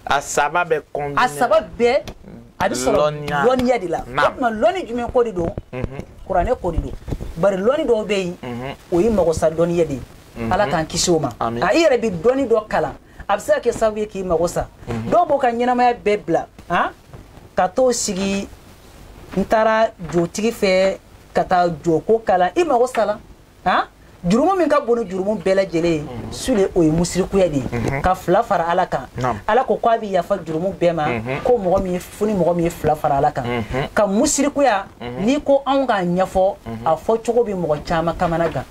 S2: a saba bɛɛ a
S1: saba bɛɛ a bɛ
S2: sɔrɔ lɔnniya de la o tuma lɔnni jumɛn ko de don kuranɛ ko de don bari lɔnni dɔw bɛ yen o ye magosa dɔnniya de ye ala k'an kisi o ma a i yɛrɛ bɛ dɔnni dɔ kalan a bɛ se ka kɛ sababu ye k'i mago sa dɔw b'o ka ɲɛnamaya bɛɛ bila ka t'o sigi n taara jotigi fɛ ka taa joko kalan i mago sala han jurumu min ka bon ni jurumu bɛɛ lajɛlen ye mhm. sule o ye musirikuya de ye mhm. ka fila fara ala kan ala ko k'a bɛ yafa jurumu bɛɛ ma mhm. ko mɔgɔ min fo ni mɔgɔ min ye fila fara ala kan ka musirikuya n'i ko anw k'a ɲɛfɔ a fɔ cogo bɛ mɔgɔ caman kamana gan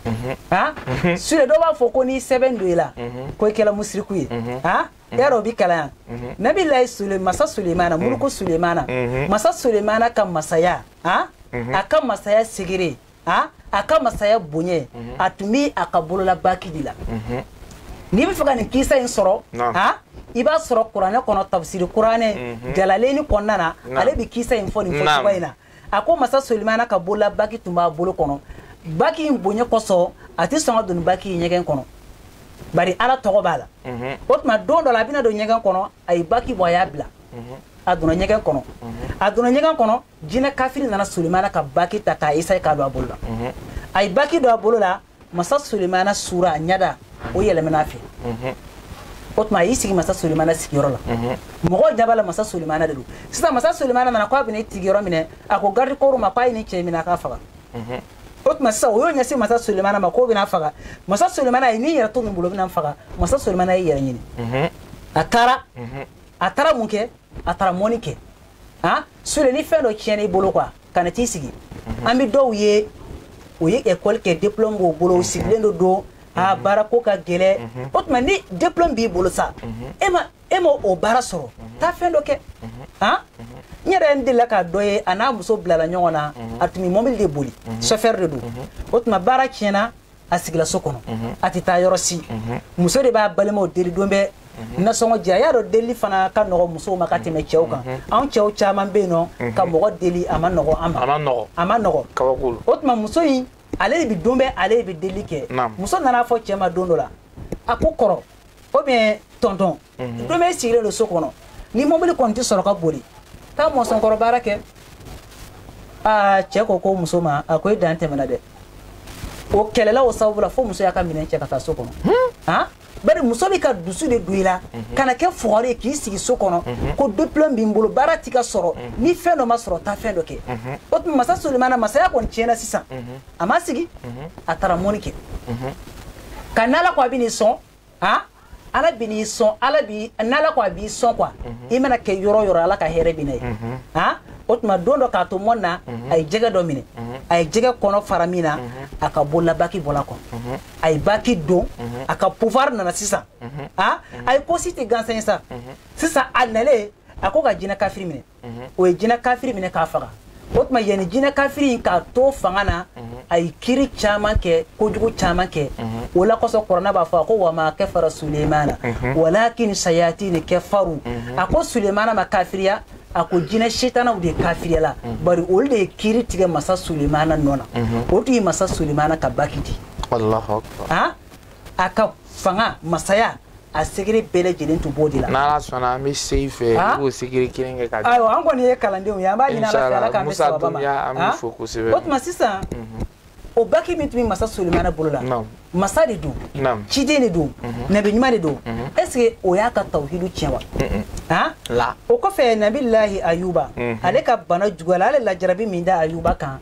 S2: han sule dɔw b'a fɔ ko n'i sɛbɛn don i la ko i kɛra musiriku ye han yɛrɛ o bi kalan yan mhm. nabi layi masa sulemana mhm. muruku sulemana mhm. masa sulemana ka masaya a a ka masaya secret a a ka masaya boɲɛ a tun bi a ka bolola baki de la n'i bɛ fɛ ka nin kisa in sɔrɔ a i b'a sɔrɔ kuranɛ kɔnɔ tafsiri kuranɛ jalaleni kɔnɔna na ale bɛ kisa in fɔ nin fɔ cogoya in na a ko masa sulemana ka bolola baki tun b'a bolo kɔnɔ baki in bonya kosɔn a tɛ sɔn ka don baki in ɲɛgɛn kɔnɔ bari ala tɔgɔ b'a la mhm. o tuma don dɔ la a bɛna don ɲɛgɛn kɔnɔ a ye baki bɔ a y'a bila mhm. a donna ɲɛgɛn kɔnɔ mhm. a donna ɲɛgɛn kɔnɔ jinɛ kafiri nana sulemana ka baki ta k'a esaye k'a don a bolo la a ye baki don a bolo la masa sulemana sura ɲada o yɛlɛmana fɛ mhm. o tuma a y'i sigi masa sulemana sigiyɔrɔ la mhm. mɔgɔw ɲa b'a la masa sulemana de don sisan masa sulemana nana k'a bɛna i sigiyɔrɔ minɛ a ko garidikɔrɔw ma k'a ye nin cɛ minɛ a k'a faga mhm. o tuma sisan o y'o ɲɛsin masa sulemana ma k'o bɛna faga masa sulemana n'i y'i yɛrɛ to nin bolo bɛna faga masa sulemana y'i yɛrɛ ɲini a taara a taara mun kɛ a taara mɔnni kɛ ah sule ni fɛn dɔ tiɲɛna i bolo quoi kana t'i sigi mhm. an bɛ dɔw ye o ye école kɛ diplôme b'o bolo o mhm. sigilen do don a mhm. baara ko ka gɛlɛn o tuma ni diplôme b'i bolo sa e ma e ma o baara sɔrɔ taa fɛn dɔ kɛ han n yɛrɛ n delila ka dɔ ye a n'a muso bilala ɲɔgɔn na a tun bɛ mɔbili de boli chauffeur de don o tuma baara tiɲɛna a sigila so kɔnɔ a tɛ taa yɔrɔ si muso de b'a balimaw deli don bɛɛ nasɔngɔ di a y'a dɔn deli fana ka nɔgɔ musow ma ka tɛmɛ cɛw kan anw cɛw caman bɛ yen nɔ ka mɔgɔ deli a ma nɔgɔ an ma a ma nɔgɔ o tuma
S1: muso
S2: in ale de bɛ don bɛɛ ale de bɛ delili kɛ muso nan'a fɔ cɛ ma don dɔ la a ko kɔrɔ ou bien tonton mhm. don bɛɛ sigilen don so kɔnɔ ni mobili kɔni tɛ sɔrɔ ka boli taa mɔsɔnkɔrɔ baara kɛ aa cɛ ko ko muso ma a ko e dan tɛmɛna dɛ o kɛlɛla o sababu la fo muso y'a ka minɛn cɛ ka taa so kɔnɔ hmm? ah? bari muso bɛ ka dusu de don i la mhm. kana kɛ fugari ye k'i sigi so kɔnɔ mhm. ko diplôme b'i bolo baara ti ka sɔrɔ mhm. ni fɛn dɔ ma sɔrɔ taa fɛn dɔ kɛ o tuma masa solimana masaya kɔni tiɲɛna sisan a ma sigi a taara mɔni kɛ ka n'ala ko a bɛ n'i sɔn han ala bi n'i sɔn ala bi n'ala ko a b'i sɔn quoi mhm. i mana kɛ yɔrɔ o yɔrɔ ala ka hɛrɛ bi na yen mhm. han o tuma don dɔ k'a to mɔni na mhm. a ye jɛgɛ dɔ minɛ a ye jɛgɛ kɔnɔ fara min na a ka bolola baki bɔla kɔ a ye baki don a ka pouvoir nana sisan a a ye ko si tɛ gansan ye sa sisan a nalen a ko ka jinɛ kafiri minɛ mhm. o ye jinɛ kafiri minɛ k'a faga o tuma yanni jinɛ kafiri in k'a to fanga na mhm. a ye kiri caman kɛ kojugu caman kɛ mhm. o la kosɔn kurana b'a fɔ a ko wa ma kafara sulemana walakin sayatini kafaru a ko sulemana ma kafiriya a ko jinɛ setanaw de kafiriyala bari olu de ye kiri tigɛ masa sulemana nɔ na o tun ye masa sulemana ka baki di a ka fanga masaya a secret bɛɛ lajɛlen tun b'o de la n'ala sɔnna an bɛ
S1: se i fɛ i b'o secret kelen kɛ ka di ayiwa an kɔni ye kalandenw
S2: ye an b'a ɲini ala fɛ ala k'an bɛn sababu ma an b'i fo kosɛbɛ
S1: o tuma sisan
S2: o baki min tun bɛ masa sulemana bolo la masa de don ciden de don nabi ɲuman de don est ce que o y'a ka tawhidu tiɲɛ wa han la o kɔfɛ nabilahi ayuba ale ka bana juguyala ale lajarabi min da ayuba kan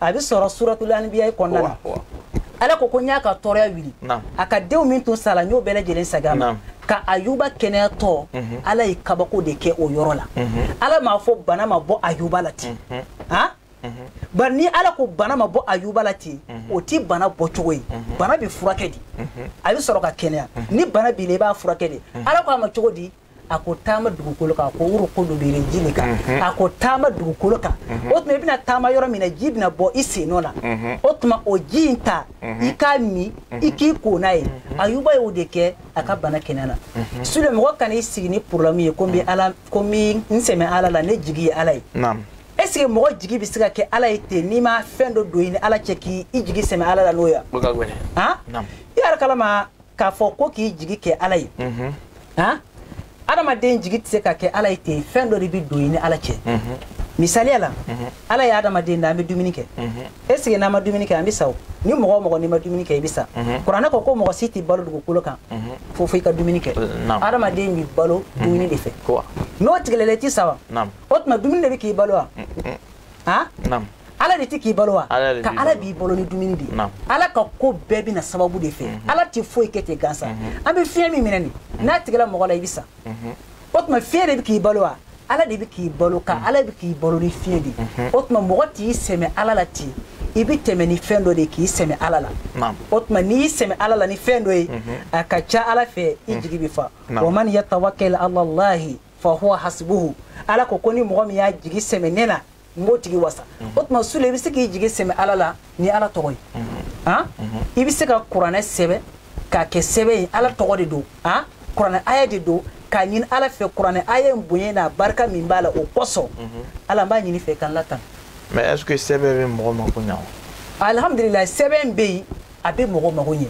S2: a bɛ sɔrɔ suratul anbiya kɔnɔna na ala ko ko n y'a ka tɔɔrɔya wuli a ka denw min tun sala n y'o bɛɛ lajɛlen segin a ma ka ayuba kɛnɛyatɔ mhm. ala ye kabako de kɛ o yɔrɔ la mhm. ala m'a fɔ bana ma bɔ ayuba la ten mhm. ah? bari ni ala ko bana ma bɔ ayuba la ten o ti bana bɔcogo ye bana bɛ furakɛ de a bɛ sɔrɔ ka kɛnɛya ni bana b'i la i b'a furakɛ de ala ko a ma cogo di a ko taama dugukolo kan a ko urukudu birijilika mhm. a ko taama dugukolo kan mhm. o tuma i bɛna taama yɔrɔ min na ji bɛna bɔ i sennɔ la mhm. o tuma o ji in ta i k'a min i k'i ko n'a ye ayuba y'o de kɛ a ka bana kɛnɛyana sule mɔgɔ kana i sigi ni problème ye ko n bɛ ala ko n bɛ n sɛmɛ ala la ne jigi ye ala ye est ce que mɔgɔ jigi bɛ se ka kɛ ala ye ten n'i ma fɛn dɔ don i ni ala cɛ k'i jigi sɛmɛ ala la n'o ye han i yɛrɛ kalama k'a fɔ ko k'i jigi kɛ ala ye mhm. han adamaden jigi tɛ se ka kɛ ala ye ten fɛn dɔ de bɛ don i ni ala cɛ mhm. misaliya la mhm. ala ye adamaden da an bɛ dumuni kɛ est ce que n'an ma dumuni kɛ an bɛ sa o ni mɔgɔ o mɔgɔ n'i ma dumuni kɛ i bɛ sa kuranɛ ko ko mɔgɔ si tɛ balo dugukolo kan fo fo i ka dumuni kɛ adamaden bɛ balo dumuni de fɛ n'o tigɛl'e la i tɛ sa wa o tuma dumuni de bɛ k'i balo wa ha naam ala de tɛ k'i balo wa ka ala b'i balo ni dumuni de ye ala ka ko bɛɛ bɛ na sababu de fɛ mhm. ala tɛ foyi kɛ ten gansa mhm. an bɛ fiɲɛ min minɛ nin mhm. n'a tigɛla mɔgɔ la i bɛ sa o tuma fiɲɛ de bɛ k'i balo wa ala de bɛ k'i balo ka ala bɛ k'i balo ni fiɲɛ de ye o tuma mɔgɔ t'i sɛmɛ ala la ten i bɛ tɛmɛ ni fɛn dɔ de k'i sɛmɛ ala la o tuma n'i y'i sɛmɛ ala la ni fɛn dɔ ye a ka ca ala fɛ i jigi bɛ fa wa man yatawakkal ala lahi fa huwa hasbuhu ala ko ko ni mɔgɔ min y'a jigi sɛmɛ ne na n b'o tigi wasa mhm. o tuma sule i bɛ se k'i jigi sɛmɛ ala la ni ala tɔgɔ ye mhm. ah? mhm. i bɛ se ka kuranɛ sɛbɛn k'a kɛ sɛbɛn ye ala tɔgɔ de don ah? kuranɛ aya de don k'a ɲini ala fɛ kuranɛ aya in bonya n'a barika min b'a la o kosɔn ala n b'a ɲin'i fɛ k'an latan mais est ce que
S1: sɛbɛn bɛ mɔgɔ mako ɲa wa alhamdulilayi sɛbɛn
S2: bɛ yen a bɛ mɔgɔ mago ɲɛ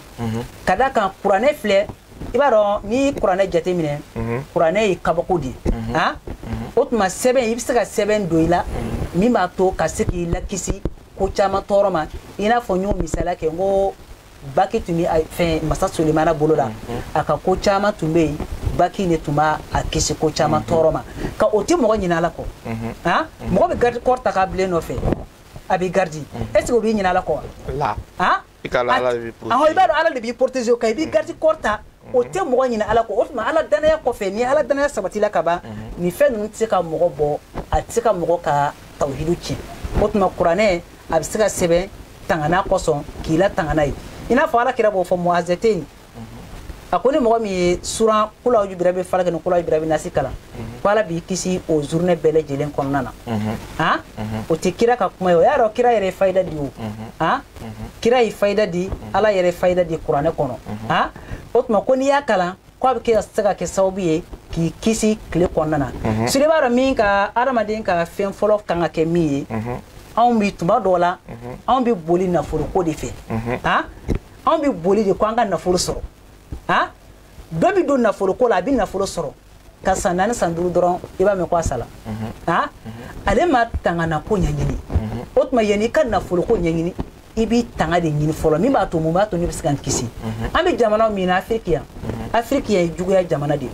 S2: ka d'a kan kuranɛ filɛ i b'a dɔn n'i ye kuranɛ jateminɛ mhm. kuranɛ ye kabako de ye mhm. ah? mhm. o tuma sɛbɛn i bɛ se ka sɛbɛn don i la min b'a to ka se k'i lakisi ko caman tɔɔrɔ ma i n'a fɔ n y'o misaliya kɛ n ko baki tun bɛ fɛn masa solimana bolo la a ka ko caman tun bɛ yen baki de tun b'a kisi ko caman tɔɔrɔ ma ka o tɛ mɔgɔ ɲina ala kɔ ah? mɔgɔ bɛ garde corps ta k'a bila i nɔfɛ a b'i garde est ce que o b'i ɲina ala kɔ wa ah i b'a dɔn ala de b'i protéger o kan i b'i garde corps ta o tɛ mɔgɔ ɲinɛ ala kɔ o tuma ala danaya kɔfɛ ni ala danaya sabatila ka ban nin fɛn ninnu tɛ se ka mɔgɔ bɔ a tɛ se ka mɔgɔ ka tawhidu tiɲɛ o tuma kuranɛ a bɛ se ka sɛbɛn tangana kosɔn k'i la tangana ye i n'a fɔ ala kira b'o fɔ muazɛteni a ko ni mɔgɔ min ye suran kul auzu birabil falaki ni kul auzu birabi nasi kalan mhm. ko ala b'i kisi o journée bɛɛ lajɛlen kɔnɔna na mhm. han mhm. o tɛ kira ka kuma ye o y'a dɔn kira yɛrɛ ye fayida di o han kira ye fayida di ala yɛrɛ ye fayida di kuranɛ kɔnɔ han o tuma ko n'i y'a kalan ko a bɛ kɛ se ka kɛ sababu ye k'i kisi tile kɔnɔna na sule i b'a dɔn min ka adamaden ka fɛn fɔlɔ kan ka kɛ min ye anw bi tuma dɔw la anw bɛ boli nafoloko de fɛ han anw bɛ boli de ko an ka nafolo sɔrɔ a dɔ bɛ don nafolo ko la a bɛ nafolo sɔrɔ ka san naani san duuru dɔrɔn i b'a mɛn ko a sala mhm. a mhm. ale ma tangana ko ɲɛɲini mhm. o tuma yanni i ka nafolo ko ɲɛɲini i b'i tanga de ɲini fɔlɔ min b'a to mun b'a to ne bɛ se ka n kisi an bɛ jamana min na afiriki yan afiriki yan ye juguya jamana de ye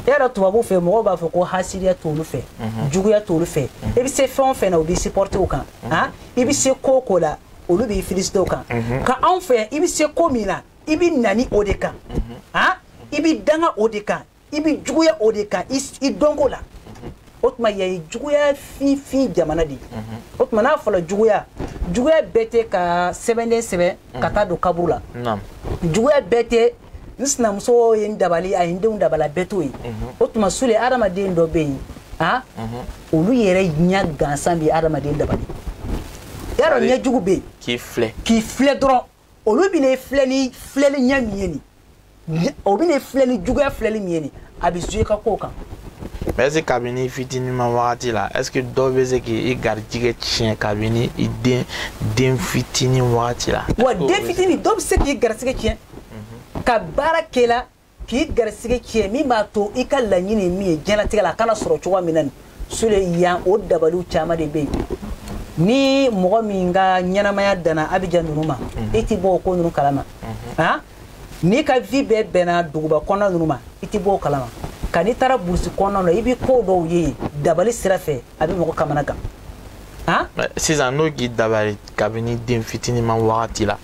S2: e yɛrɛ tubabuw fɛ mɔgɔw b'a fɔ ko hasidiya t'olu fɛ juguya t'olu fɛ i bɛ se fɛn o fɛn na u b'i supporter o kan a i bɛ se ko o ko la olu b'i féliciter o kan mhm. ka anw fɛ i bɛ se ko min na i bɛ nani o de kan mhm. han i bɛ danga o de kan i bɛ juguya o de kan i dɔnko la mhm. o tuma yan ye juguya finfin jamana de ye o tuma n'a fɔra juguya juguya bɛɛ tɛ ka sɛbɛnden sɛbɛn ka taa don kaburu la juguya bɛɛ tɛ n sinamuso ye n dabali a ye n denw dabali a bɛɛ t'o ye mhm. o tuma sule adamaden dɔ bɛ yen a mhm. olu yɛrɛ ɲɛ gansan bɛ adamaden dabali y'a dɔn ɲɛ jugu bɛ yen k'i filɛ k'i filɛ dɔrɔn olu bɛ n'i filɛ ni filɛli ɲɛ min ye nin o bɛ n'i filɛ ni juguya filɛli min ye nin a bɛ jouer ka kow kan. mais est-ce
S1: que kabini fitininman wagati la est-ce que dɔw bɛ se k'i garijigɛ tiɲɛ kabini i den den fitinin wagati la. wa den fitinin dɔw
S2: bɛ se k'i garijigɛ tiɲɛ. mhm. ka baara kɛ i la k'i garisɛgɛ tiɲɛ min b'a to i ka laɲini min ye diɲɛlatigɛ la a kana sɔrɔ cogoya min na nin sule yan o dabaliw caman de bɛ yen ni mɔgɔ min ka ɲɛnamaya danna abijan ninnu ma mhm. i tɛ bɔ o ko ninnu kalama mhm. ah? n'i ka vie bɛɛ bɛnna duguba kɔnɔna ninnu ma i tɛ bɔ o kalama ka n'i taara burusi kɔnɔna na i bɛ ko dɔw ye dabali sira fɛ a bɛ mɔgɔ kamanagan
S1: sisan n'o k'i dabali kabini den fitiniman wagati la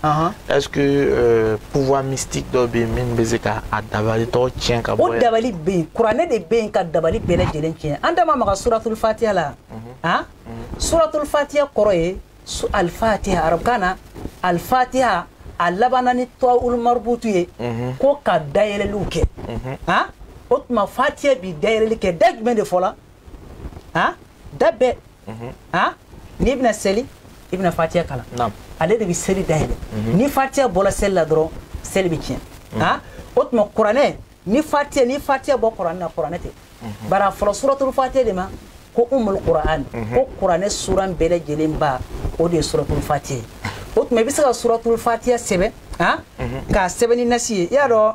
S1: est ce que euh, pouvoir mystique dɔ bɛ yen min bɛ se ka a dabali tɔ tiɲɛ ka bɔ o dabali bɛ yen kuranɛ
S2: de bɛ yen ka dabali bɛɛ lajɛlen tiɲɛ an da ma maga suratul fatiya la han suratul fatiya kɔrɔ ye al fatiha arabukan na al fatiha a labanna ni tawul marbutu ye ko ka dayɛlɛliw kɛ han o tuma fatiya bi dayɛlɛli kɛ da jumɛn de fɔla han da bɛɛ mhm. han n'i bɛna seli i bɛna fatiya kalan ale de bɛ seli dayɛlɛ mhm. ni fatiya bɔra seli la dɔrɔn seli bɛ tiɲɛ mhm. han o tuma kuranɛ ni fatiya ni fatiya bɔ kuranɛ na kuranɛ tɛ bari a fɔra suratul fatiya de ma ko umul kuran ko kuranɛ suran bɛɛ lajɛlen ba o de ye suratul fatiya ye o tuma i bɛ se ka suratul fatiya sɛbɛn han k'a sɛbɛn ni nasi ye i y'a dɔn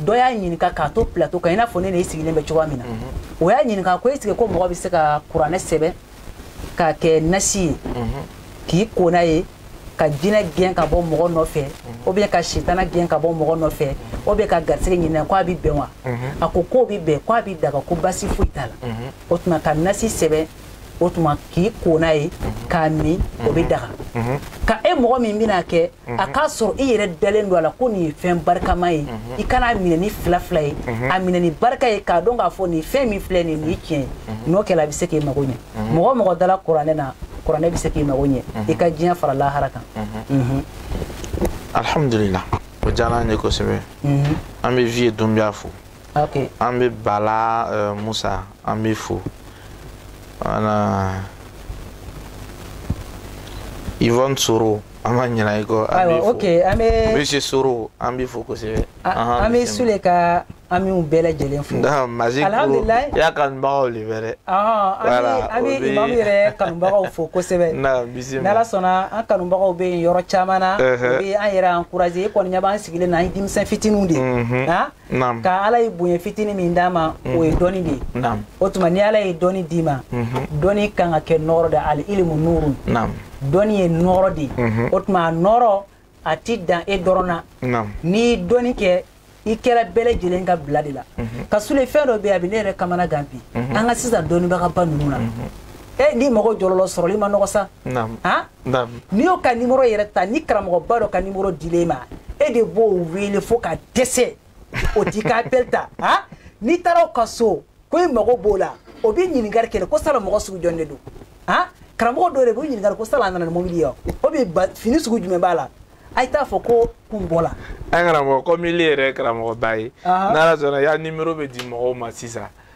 S2: dɔ y'a ɲininka k'a to plateau kan i n'a fɔ ne n'e sigilen bɛ cogoya min na mhm. o y'a ɲininka ko est-ce que ko mɔgɔ bɛ se ka kuranɛ sɛbɛn k'a kɛ nasi ye mhm. k'i ko n'a ye ka jinɛ gɛn ka bɔ mɔgɔ nɔfɛ mhm. ou bien ka sitana gɛn ka bɔ mɔgɔ nɔfɛ ou bien ka garisɛgɛ ɲini a ko a bɛ bɛn wa a ko k'o bɛ bɛn ko a bɛ daga ko basi foyi t'a la o tuma ka nasi sɛbɛn o tuma k'i ko n'a ye k'a min o bɛ daga ka e mɔgɔ min bɛna kɛ a k'a sɔrɔ i yɛrɛ dalen don a la ko nin ye fɛn barikama ye i kan'a minɛ ni fila fila ye a minɛ ni barika ye k'a dɔn k'a fɔ nin fɛn min filɛ nin ye tiɲɛ ye n'o kɛra a bɛ se k'i mago ɲɛ mɔgɔ mɔgɔ dala kuranɛ na kuranɛ bɛ se k'i mago ɲɛ i ka diɲɛ fara lahara kan
S1: alihamudulila o diyara an ye kosɛbɛ an bɛ vieux dunbiya fo okay. an bɛ bala uh, musa an bɛ fo wala ivon soro an ma ɲina i kɔ an bɛ fo okay, an bɛ
S2: monsieur soro an
S1: b'i fo kosɛbɛ an bɛ sule
S2: ka an b'u bɛɛ lajɛlen fo
S1: alihamdulilayi i ya kanubagaw de bɛ dɛ an
S2: bɛ imamu yɛrɛ kanubagaw fo kosɛbɛ n'ala
S1: sɔnna an
S2: kanubagaw bɛ yen yɔrɔ caman na u bɛ an yɛrɛ encourager e kɔni ɲɛ b'an sigilen na an ye denmisɛn fitininw de ye naam ka ala ye bonya fitini min d'an ma mhm. o ye dɔni de ye naam o tuma ni ala ye dɔni d'i ma mhm. dɔni kan ka kɛ nɔɔrɔ de al ilimu nurun naam dɔni ye nɔɔrɔ de ye mhm. o tuma a nɔɔrɔ a ti dan e dɔrɔn na naam n'i dɔni kɛ i kɛra bɛɛ lajɛlen ka bila de la ka sule fɛn dɔ bɛ yen a bɛ ne yɛrɛ kamanagan bi an ka sisan dɔnnibagaba ninnu na e n'i mago jɔl'o la o sɔrɔli man nɔgɔ sa naam n'i y'o ka nimoro yɛrɛ ta ni karamɔgɔba dɔ ka nimoro dil'e ma e de b'o wele fo ka dɛsɛ o t'i ka appel ta han n'i taara o ka so ko i mago b'o la o bi ɲininkali kɛ ko sala mɔgɔ sugu jɔn de don han karamɔgɔ dɔ de b'o ɲininkali ko sala a nana ni mobili ye o bi fini sugu jumɛn b'a la a ye t'a fɔ ko ko n bɔla an karamɔgɔ kɔmi
S1: ile yɛrɛ karamɔgɔba ye n'ala sɔnna i ya nimero bɛ di mɔgɔw ma sisan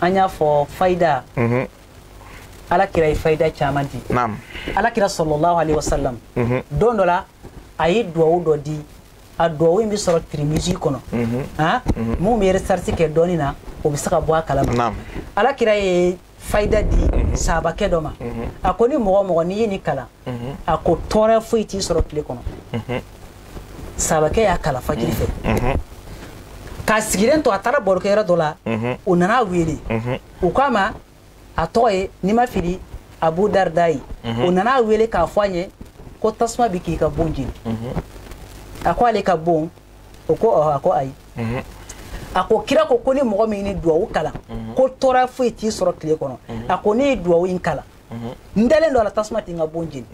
S2: an y'a fɔ fayida mhm. ala kira ye fayida caman di ala
S1: kira salalahu
S2: alaihi wasalam mhm. don dɔ la a ye duwawu dɔ di a duwawu in bɛ sɔrɔ tirimizi kɔnɔ min bɛ recherche kɛ dɔɔni na o bɛ se ka bɔ a kalama ala kira
S1: ye
S2: fayida di mhm. sabakɛ dɔ ma mhm. a ko ni mɔgɔ o mɔgɔ n'i ye nin kalan mhm. a ko tɔɔrɔ foyi t'i sɔrɔ tile kɔnɔ sabakɛ y'a kalan fajiri fɛ k'a sigilen to a taara barokɛyɔrɔ dɔ la o nana a wele o k'a ma a tɔgɔ ye n'i ma fili abu darida ye o nana a wele k'a fɔ a ɲɛ ko tasuma bɛ k'i ka bon jeni a ko ale ka bon o ko ɔhɔ a ko ayi mhm. a ko kira ko ko ni mɔgɔ min nin duwawu kalan mhm. ko tɔɔrɔ foyi t'i sɔrɔ tile kɔnɔ mhm. a ko ne ye duwawu in kalan n dalen don a la tasuma tɛ n ka bon jeni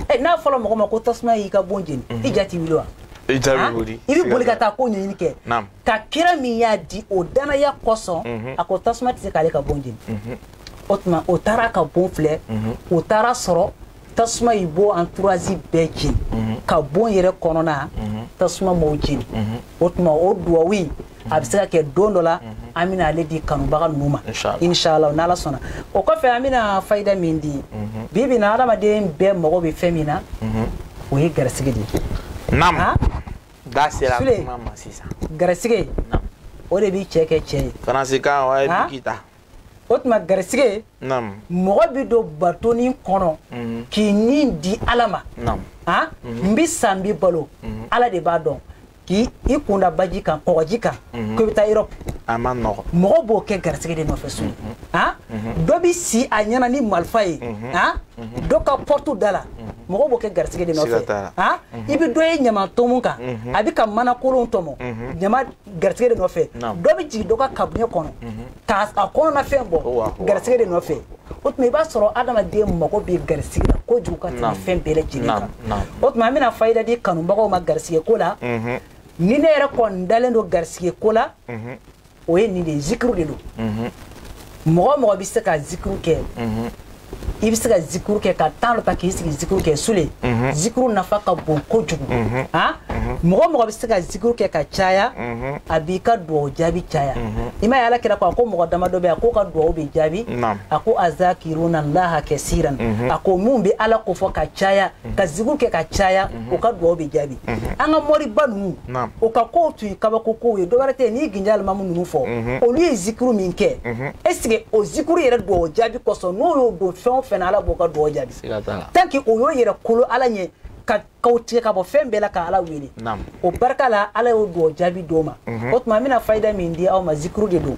S2: eh, n'a fɔra mɔgɔ ma ko tasuma y'i ka bon jeni i ja t'i wuli wa i ja bɛ wuli i bɛ boli ka taa ko ɲɛɲini kɛ ka kira min y'a di o danaya kosɔn a ko tasuma tɛ se k'ale ka bon jeni o tuma o taara ka bon filɛ o taara a sɔrɔ tasuma ye bon entourage bɛɛ jeni mhm. ka bon yɛrɛ kɔnɔna mhm. tasuma m'o jeni mhm. o tuma o duwawu in a bɛ se ka kɛ don dɔ la an bɛna ale di kanubaga ninnu ma inshallah n'ala sɔnna o kɔfɛ an bɛna fayida min di bi bi na adamaden bɛɛ mago bɛ fɛn min na o ye garisigi de ye naam
S1: ah? da sera kuma ma sisan garisigi
S2: o de bɛ cɛ kɛ cɛ ye faransikan o ye biki
S1: ta o
S2: tuma garisige
S1: mɔgɔ bɛ
S2: don batonin kɔnɔ mhm. k'i ni di ala ma a
S1: mhm. n bɛ
S2: sa n bɛ balo mhm. ala de b'a dɔn k'i i kunda baji kan kɔgɔji kan ko i bɛ taa erɔpu
S1: mɔgɔ b'o
S2: kɛ garisige de nɔfɛ sule dɔ bɛ si a ɲɛ na ni marifa ye a dɔ ka pɔrɔtu da la mɔgɔ b'o kɛ garisige de nɔfɛ a i bɛ dɔ ye ɲaman tomu kan a bɛ ka mana kolon tɔmɔ ɲama garisɛgɛ de nɔfɛ dɔ bɛ jigin dɔ ka kabinɛ kɔnɔ mhm. k'a a kɔnɔna fɛn bɔ garisɛgɛ de nɔfɛ o tuma i b'a sɔrɔ adamaden mago bɛ garisɛgɛ la kojugu ka tɛmɛ fɛn bɛɛ lajɛlen kan o tuma an bɛna fayida di kanubagaw ma garisɛgɛ ko la mhm. ni ne yɛrɛ kɔni dalen don garisɛgɛ ko la mhm. o ye nin de ye zikuru de don mɔgɔ o mɔgɔ bɛ se ka zikuru kɛ i bɛ se ka zikuru kɛ ka tan dɔ ta k'i sigi zikuru kɛ sule mhm. zikuru nafa ka bon kojugu mhm. ah? mhm. mɔgɔ o mɔgɔ bɛ se ka zikuru kɛ ka caya a b'i ka dugawu jaabi caya i m'a ye ala kira ko a ko mɔgɔ damadɔ bɛ a k'o ka dugawu bɛ jaabi a ko azakiruna laha kasiran a ko minw bɛ ala kofɔ ka caya ka zikuru kɛ ka caya o ka dugawu bɛ jaabi an ka moriba ninnu o ka kow tun ye kabako kow ye dɔwɛrɛ tɛ n'i ginja alimamu ninnu fɔ mhm. olu ye zikuru min kɛ mhm. esike o zikuru yɛrɛ dugawu jaabi kosɔn n'o y'o don fɛn o fɛn na ala b'o ka dugawu jaabi tant que o y'o yɛrɛ kolo ala ɲɛ ka k'u tigɛ ka bɔ fɛn bɛɛ la ka ala wele o barika la ala y'o dugawu jaabi d'o ma mhm. o tuma an bɛna fayida min di aw ma zikuru de don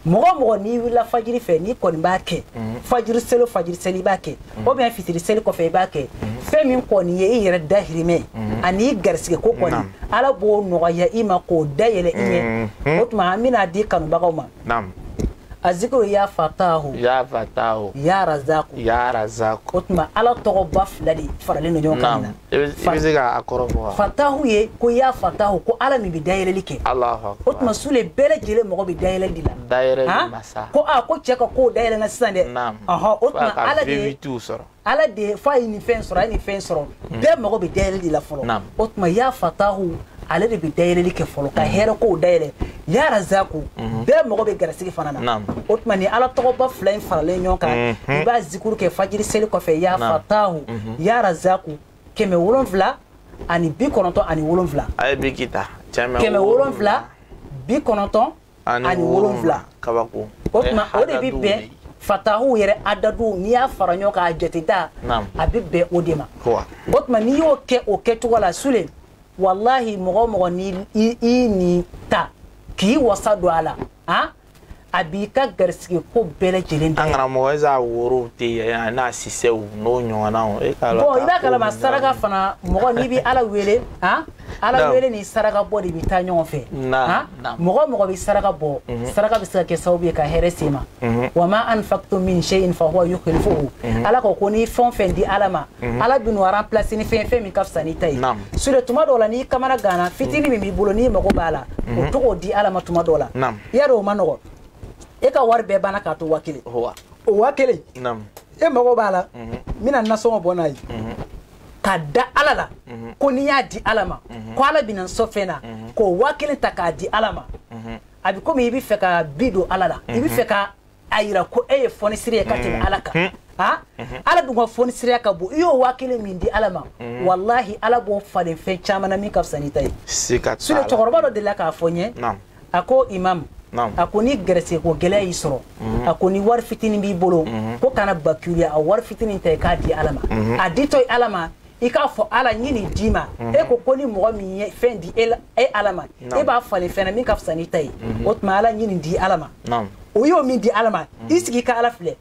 S2: mɔgɔ o mɔgɔ n'i wulila fajiri fɛ n'i kɔni b'a kɛ fajiri selo fajiri seli i b'a kɛ ou bien fitiri seli kɔfɛ i b'a kɛ fɛn min kɔni ye i yɛrɛ dahirimɛ ani garisɛgɛ ko kɔni ala b'o nɔgɔya i ma k'o dayɛlɛ i ɲɛ o tuma an bɛn'a di kanubagaw ma a zikuru ya fatahu ya fatahu ya razaku ya razaku o tuma ala tɔgɔba fila de faralen don ɲɔgɔn kan bɛ ka
S1: a kɔrɔ fɔ fatahu ye
S2: ko ya fatahu ko ala min bɛ dayɛlɛli kɛ o tuma
S1: sule bɛɛ
S2: lajɛlen mago bɛ dayɛlɛli de la dayɛlɛ masa
S1: ko a ko cɛ ka
S2: kow dayɛlɛna sisan dɛ ɔhɔ o tuma ala de ye sɔrɔ ala de ye f'a ye nin fɛn sɔrɔ a ye nin fɛn sɔrɔ bɛɛ mago bɛ dayɛlɛli de la fɔlɔ o tuma ya fatahu ale de bɛ dayɛlɛli kɛ fɔlɔ ka hɛrɛ kow dayɛlɛ ya razaku mhm. bɛɛ mago bɛ garisigɛ fana na o tuma nin ala tɔgɔba fila in faralen ɲɔgɔn kan mhm. i b'a zikuru kɛ fajiri seli kɔfɛ ya fatahu mhm. ya razaku kɛmɛ wolonfila ani bi kɔnɔntɔn ani wolonfila a ye biki
S1: ta kɛmɛ wolonfila
S2: bi kɔnɔntɔn ani wolonwula kabako
S1: o tuma o de
S2: bɛ bɛn fatahu yɛrɛ adadu n'i y'a fara ɲɔgɔn kan a jateda a bɛ bɛn o de ma o tuma n'i y'o kɛ o kɛcogo la sule walahi mɔgɔ o mɔgɔ ni i nin ta k'i wasa don a la han a b'i ka garisige ko bɛɛ lajɛlen da an karamɔgɔ esa
S1: worow tɛ yɛrɛ n'a sisɛw n'o ɲɔgɔnnaw e ka dɔ bɔ i b'a kalama saraka
S2: fana mɔgɔ n'i bɛ ala wele han ala wele ni saraka bɔ de bɛ taa ɲɔgɔn fɛ han mɔgɔ mɔgɔ bɛ saraka bɔ mhm. saraka bɛ se ka kɛ sababu ye ka hɛrɛ se ma mhm. wa ma anfaqtum min shay'in fa huwa yukhlifuhu mhm. ala ko ko n'i ye fɛn o fɛn di ala ma ala bɛn'o remplacer ni fɛn fɛn min ka fisa n'i ta ye sule tuma dɔw la n'i kamanaganna fitini min b'i bolo n'i mago b'a la o ta k'o di ala ma tuma dɔw la y'a dɔn o man nɔgɔ e ka wari bɛɛ banna k'a to waa kelen o waa kelen e mago b'a la n bɛna nasɔngɔ bɔ n'a ye ka da ala la mhm. ko n'i y'a di ala ma mhm. ko ala bɛna n sɔ fɛn na mhm. k'o waa kelen ta k'a di ala ma a bɛ komi i bɛ fɛ ka bi don ala la i bɛ fɛ ka a yira ko e ye fɔnisiri ye ka tɛmɛ ala kan ha ala dun ka fɔnisiriya ka bon i y'o waa kelen min di ala ma walahi ala b'o falen fɛn caman na min ka fisa n'i ta ye sule
S1: cɛkɔrɔba dɔ delila
S2: k'a fɔ n ye a ko imam a ko ni garisɛgɛ ko gɛlɛya y'i sɔrɔ mhm. a ko ni wari fitinin b'i bolo mhm. ko kana bakiluya a wari fitinin ta i k'a di ala ma mhm. a ditɔ i ala ma i k'a fɔ ala n ye nin d'i ma e ko ko ni mɔgɔ min ye fɛn di e, e ala ma e b'a falen fɛn na min ka fisa n'i ta ye o tuma ala n ye nin di ala ma o y'o min di ala ma i sigi i ka ala filɛ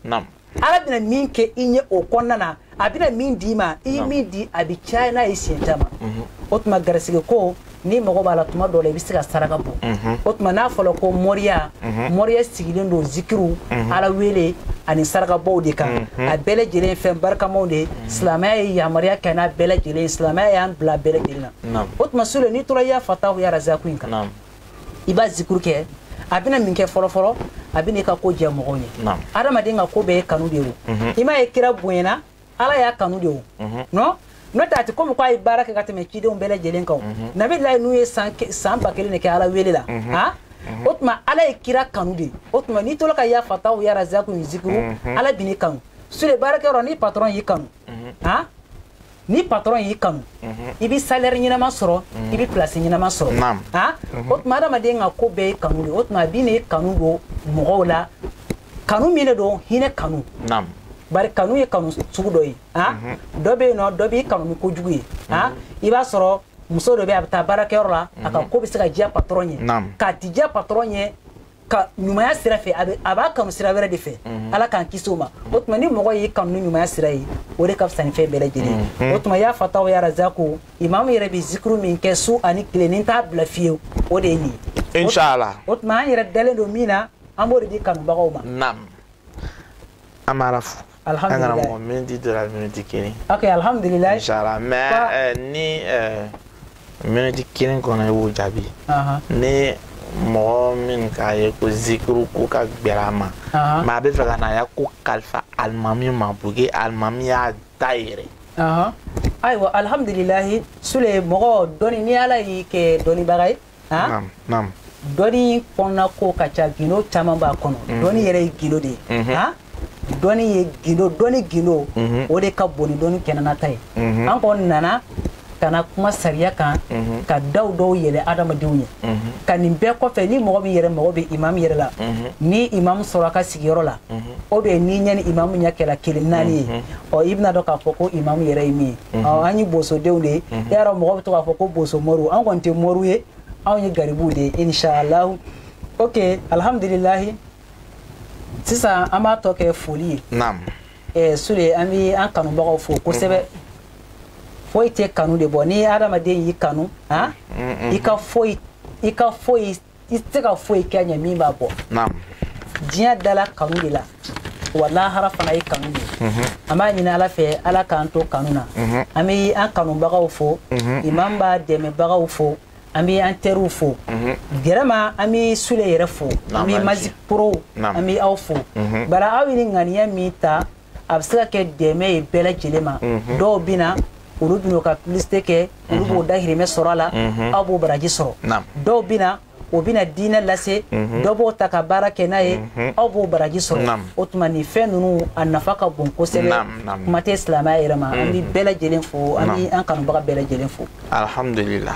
S2: ala bɛna min kɛ i ɲɛ o kɔnɔna na a bɛna min d'i ma i ye min di a bɛ caya n'a ye siɲɛ caman mhm. o tuma garisɛgɛ ko n'i mago b'a la tuma dɔ la i bɛ se ka saraka bɔ mhm. o tuma n'a fɔra ko moriya mhm. moriya sigilen don zikiriw ala wele ani sarakabɔw de kan a bɛɛ lajɛlen ye fɛn barikamaw de ye silamɛya ye yamaruya kɛ n'a bɛɛ lajɛlen ye silamɛya y'an bila a bɛɛ lajɛlen na o tuma sule n'i tora ya fatahu ya razaku in kan i b'a zikuru kɛ a bɛna min kɛ fɔlɔfɔlɔ a bɛna i ka ko diya mɔgɔw ye adamaden ka ko bɛɛ ye kanu de ye o mhm. i m'a ye kira bonyana ala y'a kanu de o mhm. nɔ n'o tɛ a tɛ komi k'a ye baara kɛ ka tɛmɛ cidenw bɛɛ lajɛlen kan mhm. nabilayi nuhu ye san ba kelen de kɛ ala wele la han o tuma ala ye kira kanu de o tuma n'i tola ka ya fatahu ya razaku zikuru ala bɛn'i kanu sule baarakɛyɔrɔ ni patron y'i kanu mhm. han ni patron y'i kanu mhm. i bɛ salaire ɲɛnama sɔrɔ mhm. i bɛ place ɲɛnama sɔrɔ han o tuma adamaden ka ko bɛɛ ye kanu de o tuma a bɛn'i kanu don mɔgɔw la kanu min de don hinɛ kanu bari kanu ye kanu sugu dɔ ye han dɔ bɛ yen nɔ dɔ b'i kanu ni kojugu ye han i b'a sɔrɔ muso dɔ bɛ a bɛ taa baarakɛyɔrɔ la a ka ko bɛ se ka diya patron ye nk'a tɛ diya patron ye ka ɲumanya sira fɛ a b'a kanu sira wɛrɛ de fɛ mhm. ala k'an kisi o ma mhm. o tuma ni mɔgɔ y'i kanu ni ɲumanya sira ye o de ka fisa ni fɛn bɛɛ lajɛlen mhm. o tuma ya fatahu ya razaku imamu yɛrɛ bɛ zikuru min kɛ su ani tile ni n t'a bila fiyewu o de ye nin ye inshallah
S1: o tuma an yɛrɛ dalen
S2: don min na an b'o de di kanubagaw ma naam an b'ala
S1: fo alhamdulillah an kana mɔgɔ miniti dɔ la miniti kelen ok
S2: alhamdulillah inshallah
S1: mais euh, ni euh, miniti kelen kɔnɔ i b'o jaabi ni mɔgɔ min k'a ye ko zikiru ko ka gbɛlɛn a ma mais a bɛ fɛ ka na a ya ko kalifa alimami ma pour que alimami y'a da
S2: yɛrɛ ayiwa alhamdulilahi sule mɔgɔ dɔni ni ala y'i kɛ dɔnnibaga ye han
S1: naam
S2: dɔnni kɔnɔna ko ka ca gindo caman b'a kɔnɔ mhm. dɔnni yɛrɛ ye gindo de ye mhm. han dɔnni ye gindo dɔnni gindo mhm. o de ka bon ni dɔnni kɛnɛnata ye an kɔni nana ka na kuma sariya kan mhm. ka daw dɔw yɛlɛ adamadenw ye mhm. ka nin bɛɛ kɔfɛ ni mɔgɔ min yɛrɛ mago bɛ imamu yɛrɛ la mhm. ni imamu sɔrɔ a ka sigiyɔrɔ la o bɛ n'i ɲɛ ni imamu ɲɛ kɛra kelen naani ye ɔ i bɛna dɔn k'a fɔ ko imamu yɛrɛ ye min ye an ye bosodenw de ye e y'a dɔn mɔgɔ bɛ to k'a fɔ ko boso moriw an kɔni tɛ moriw ye anw ye garibuw de ye inshallah ok alhamdulilahi sisan an b'a tɔ kɛ foli ye naam eh, sule an bɛ an kanubagaw fo kosɛbɛ foyi tɛ kanu de bɔ ni hadamaden y'i kanu han i ka foyi i ka foyi i tɛ se ka foyi kɛ a ɲɛ min b'a bɔ diɲɛ dala kanu de la wa lahara fana ye kanu de ye mhm. an b'a ɲini ala fɛ ala k'an to kanu na mhm. an bɛ an kanubagaw fo mhm. imam b'a dɛmɛbagaw fo an bɛ an teriw fo vraiment an bɛ sule yɛrɛ fo an bɛ Magic Pro an bɛ aw fo bari aw ye nin ŋaniya min ta a bɛ se ka kɛ dɛmɛ ye bɛɛ lajɛlen ma mhm. dɔw bɛ na olu bɛna ka publicité kɛ olu mhm. b'o dahirimɛ sɔrɔ a la mhm. aw b'o baraji sɔrɔ dɔw bɛ na o bɛna diinɛ lase dɔ b'o ta ka baara kɛ n'a ye aw b'o baraji sɔrɔ o tuma nin fɛn ninnu a nafa ka bon kosɛbɛ kuma tɛ silamɛya yɛrɛ ma an bɛ bɛɛ lajɛlen fo an bɛ an kanubaga bɛɛ lajɛlen fo alihamudulila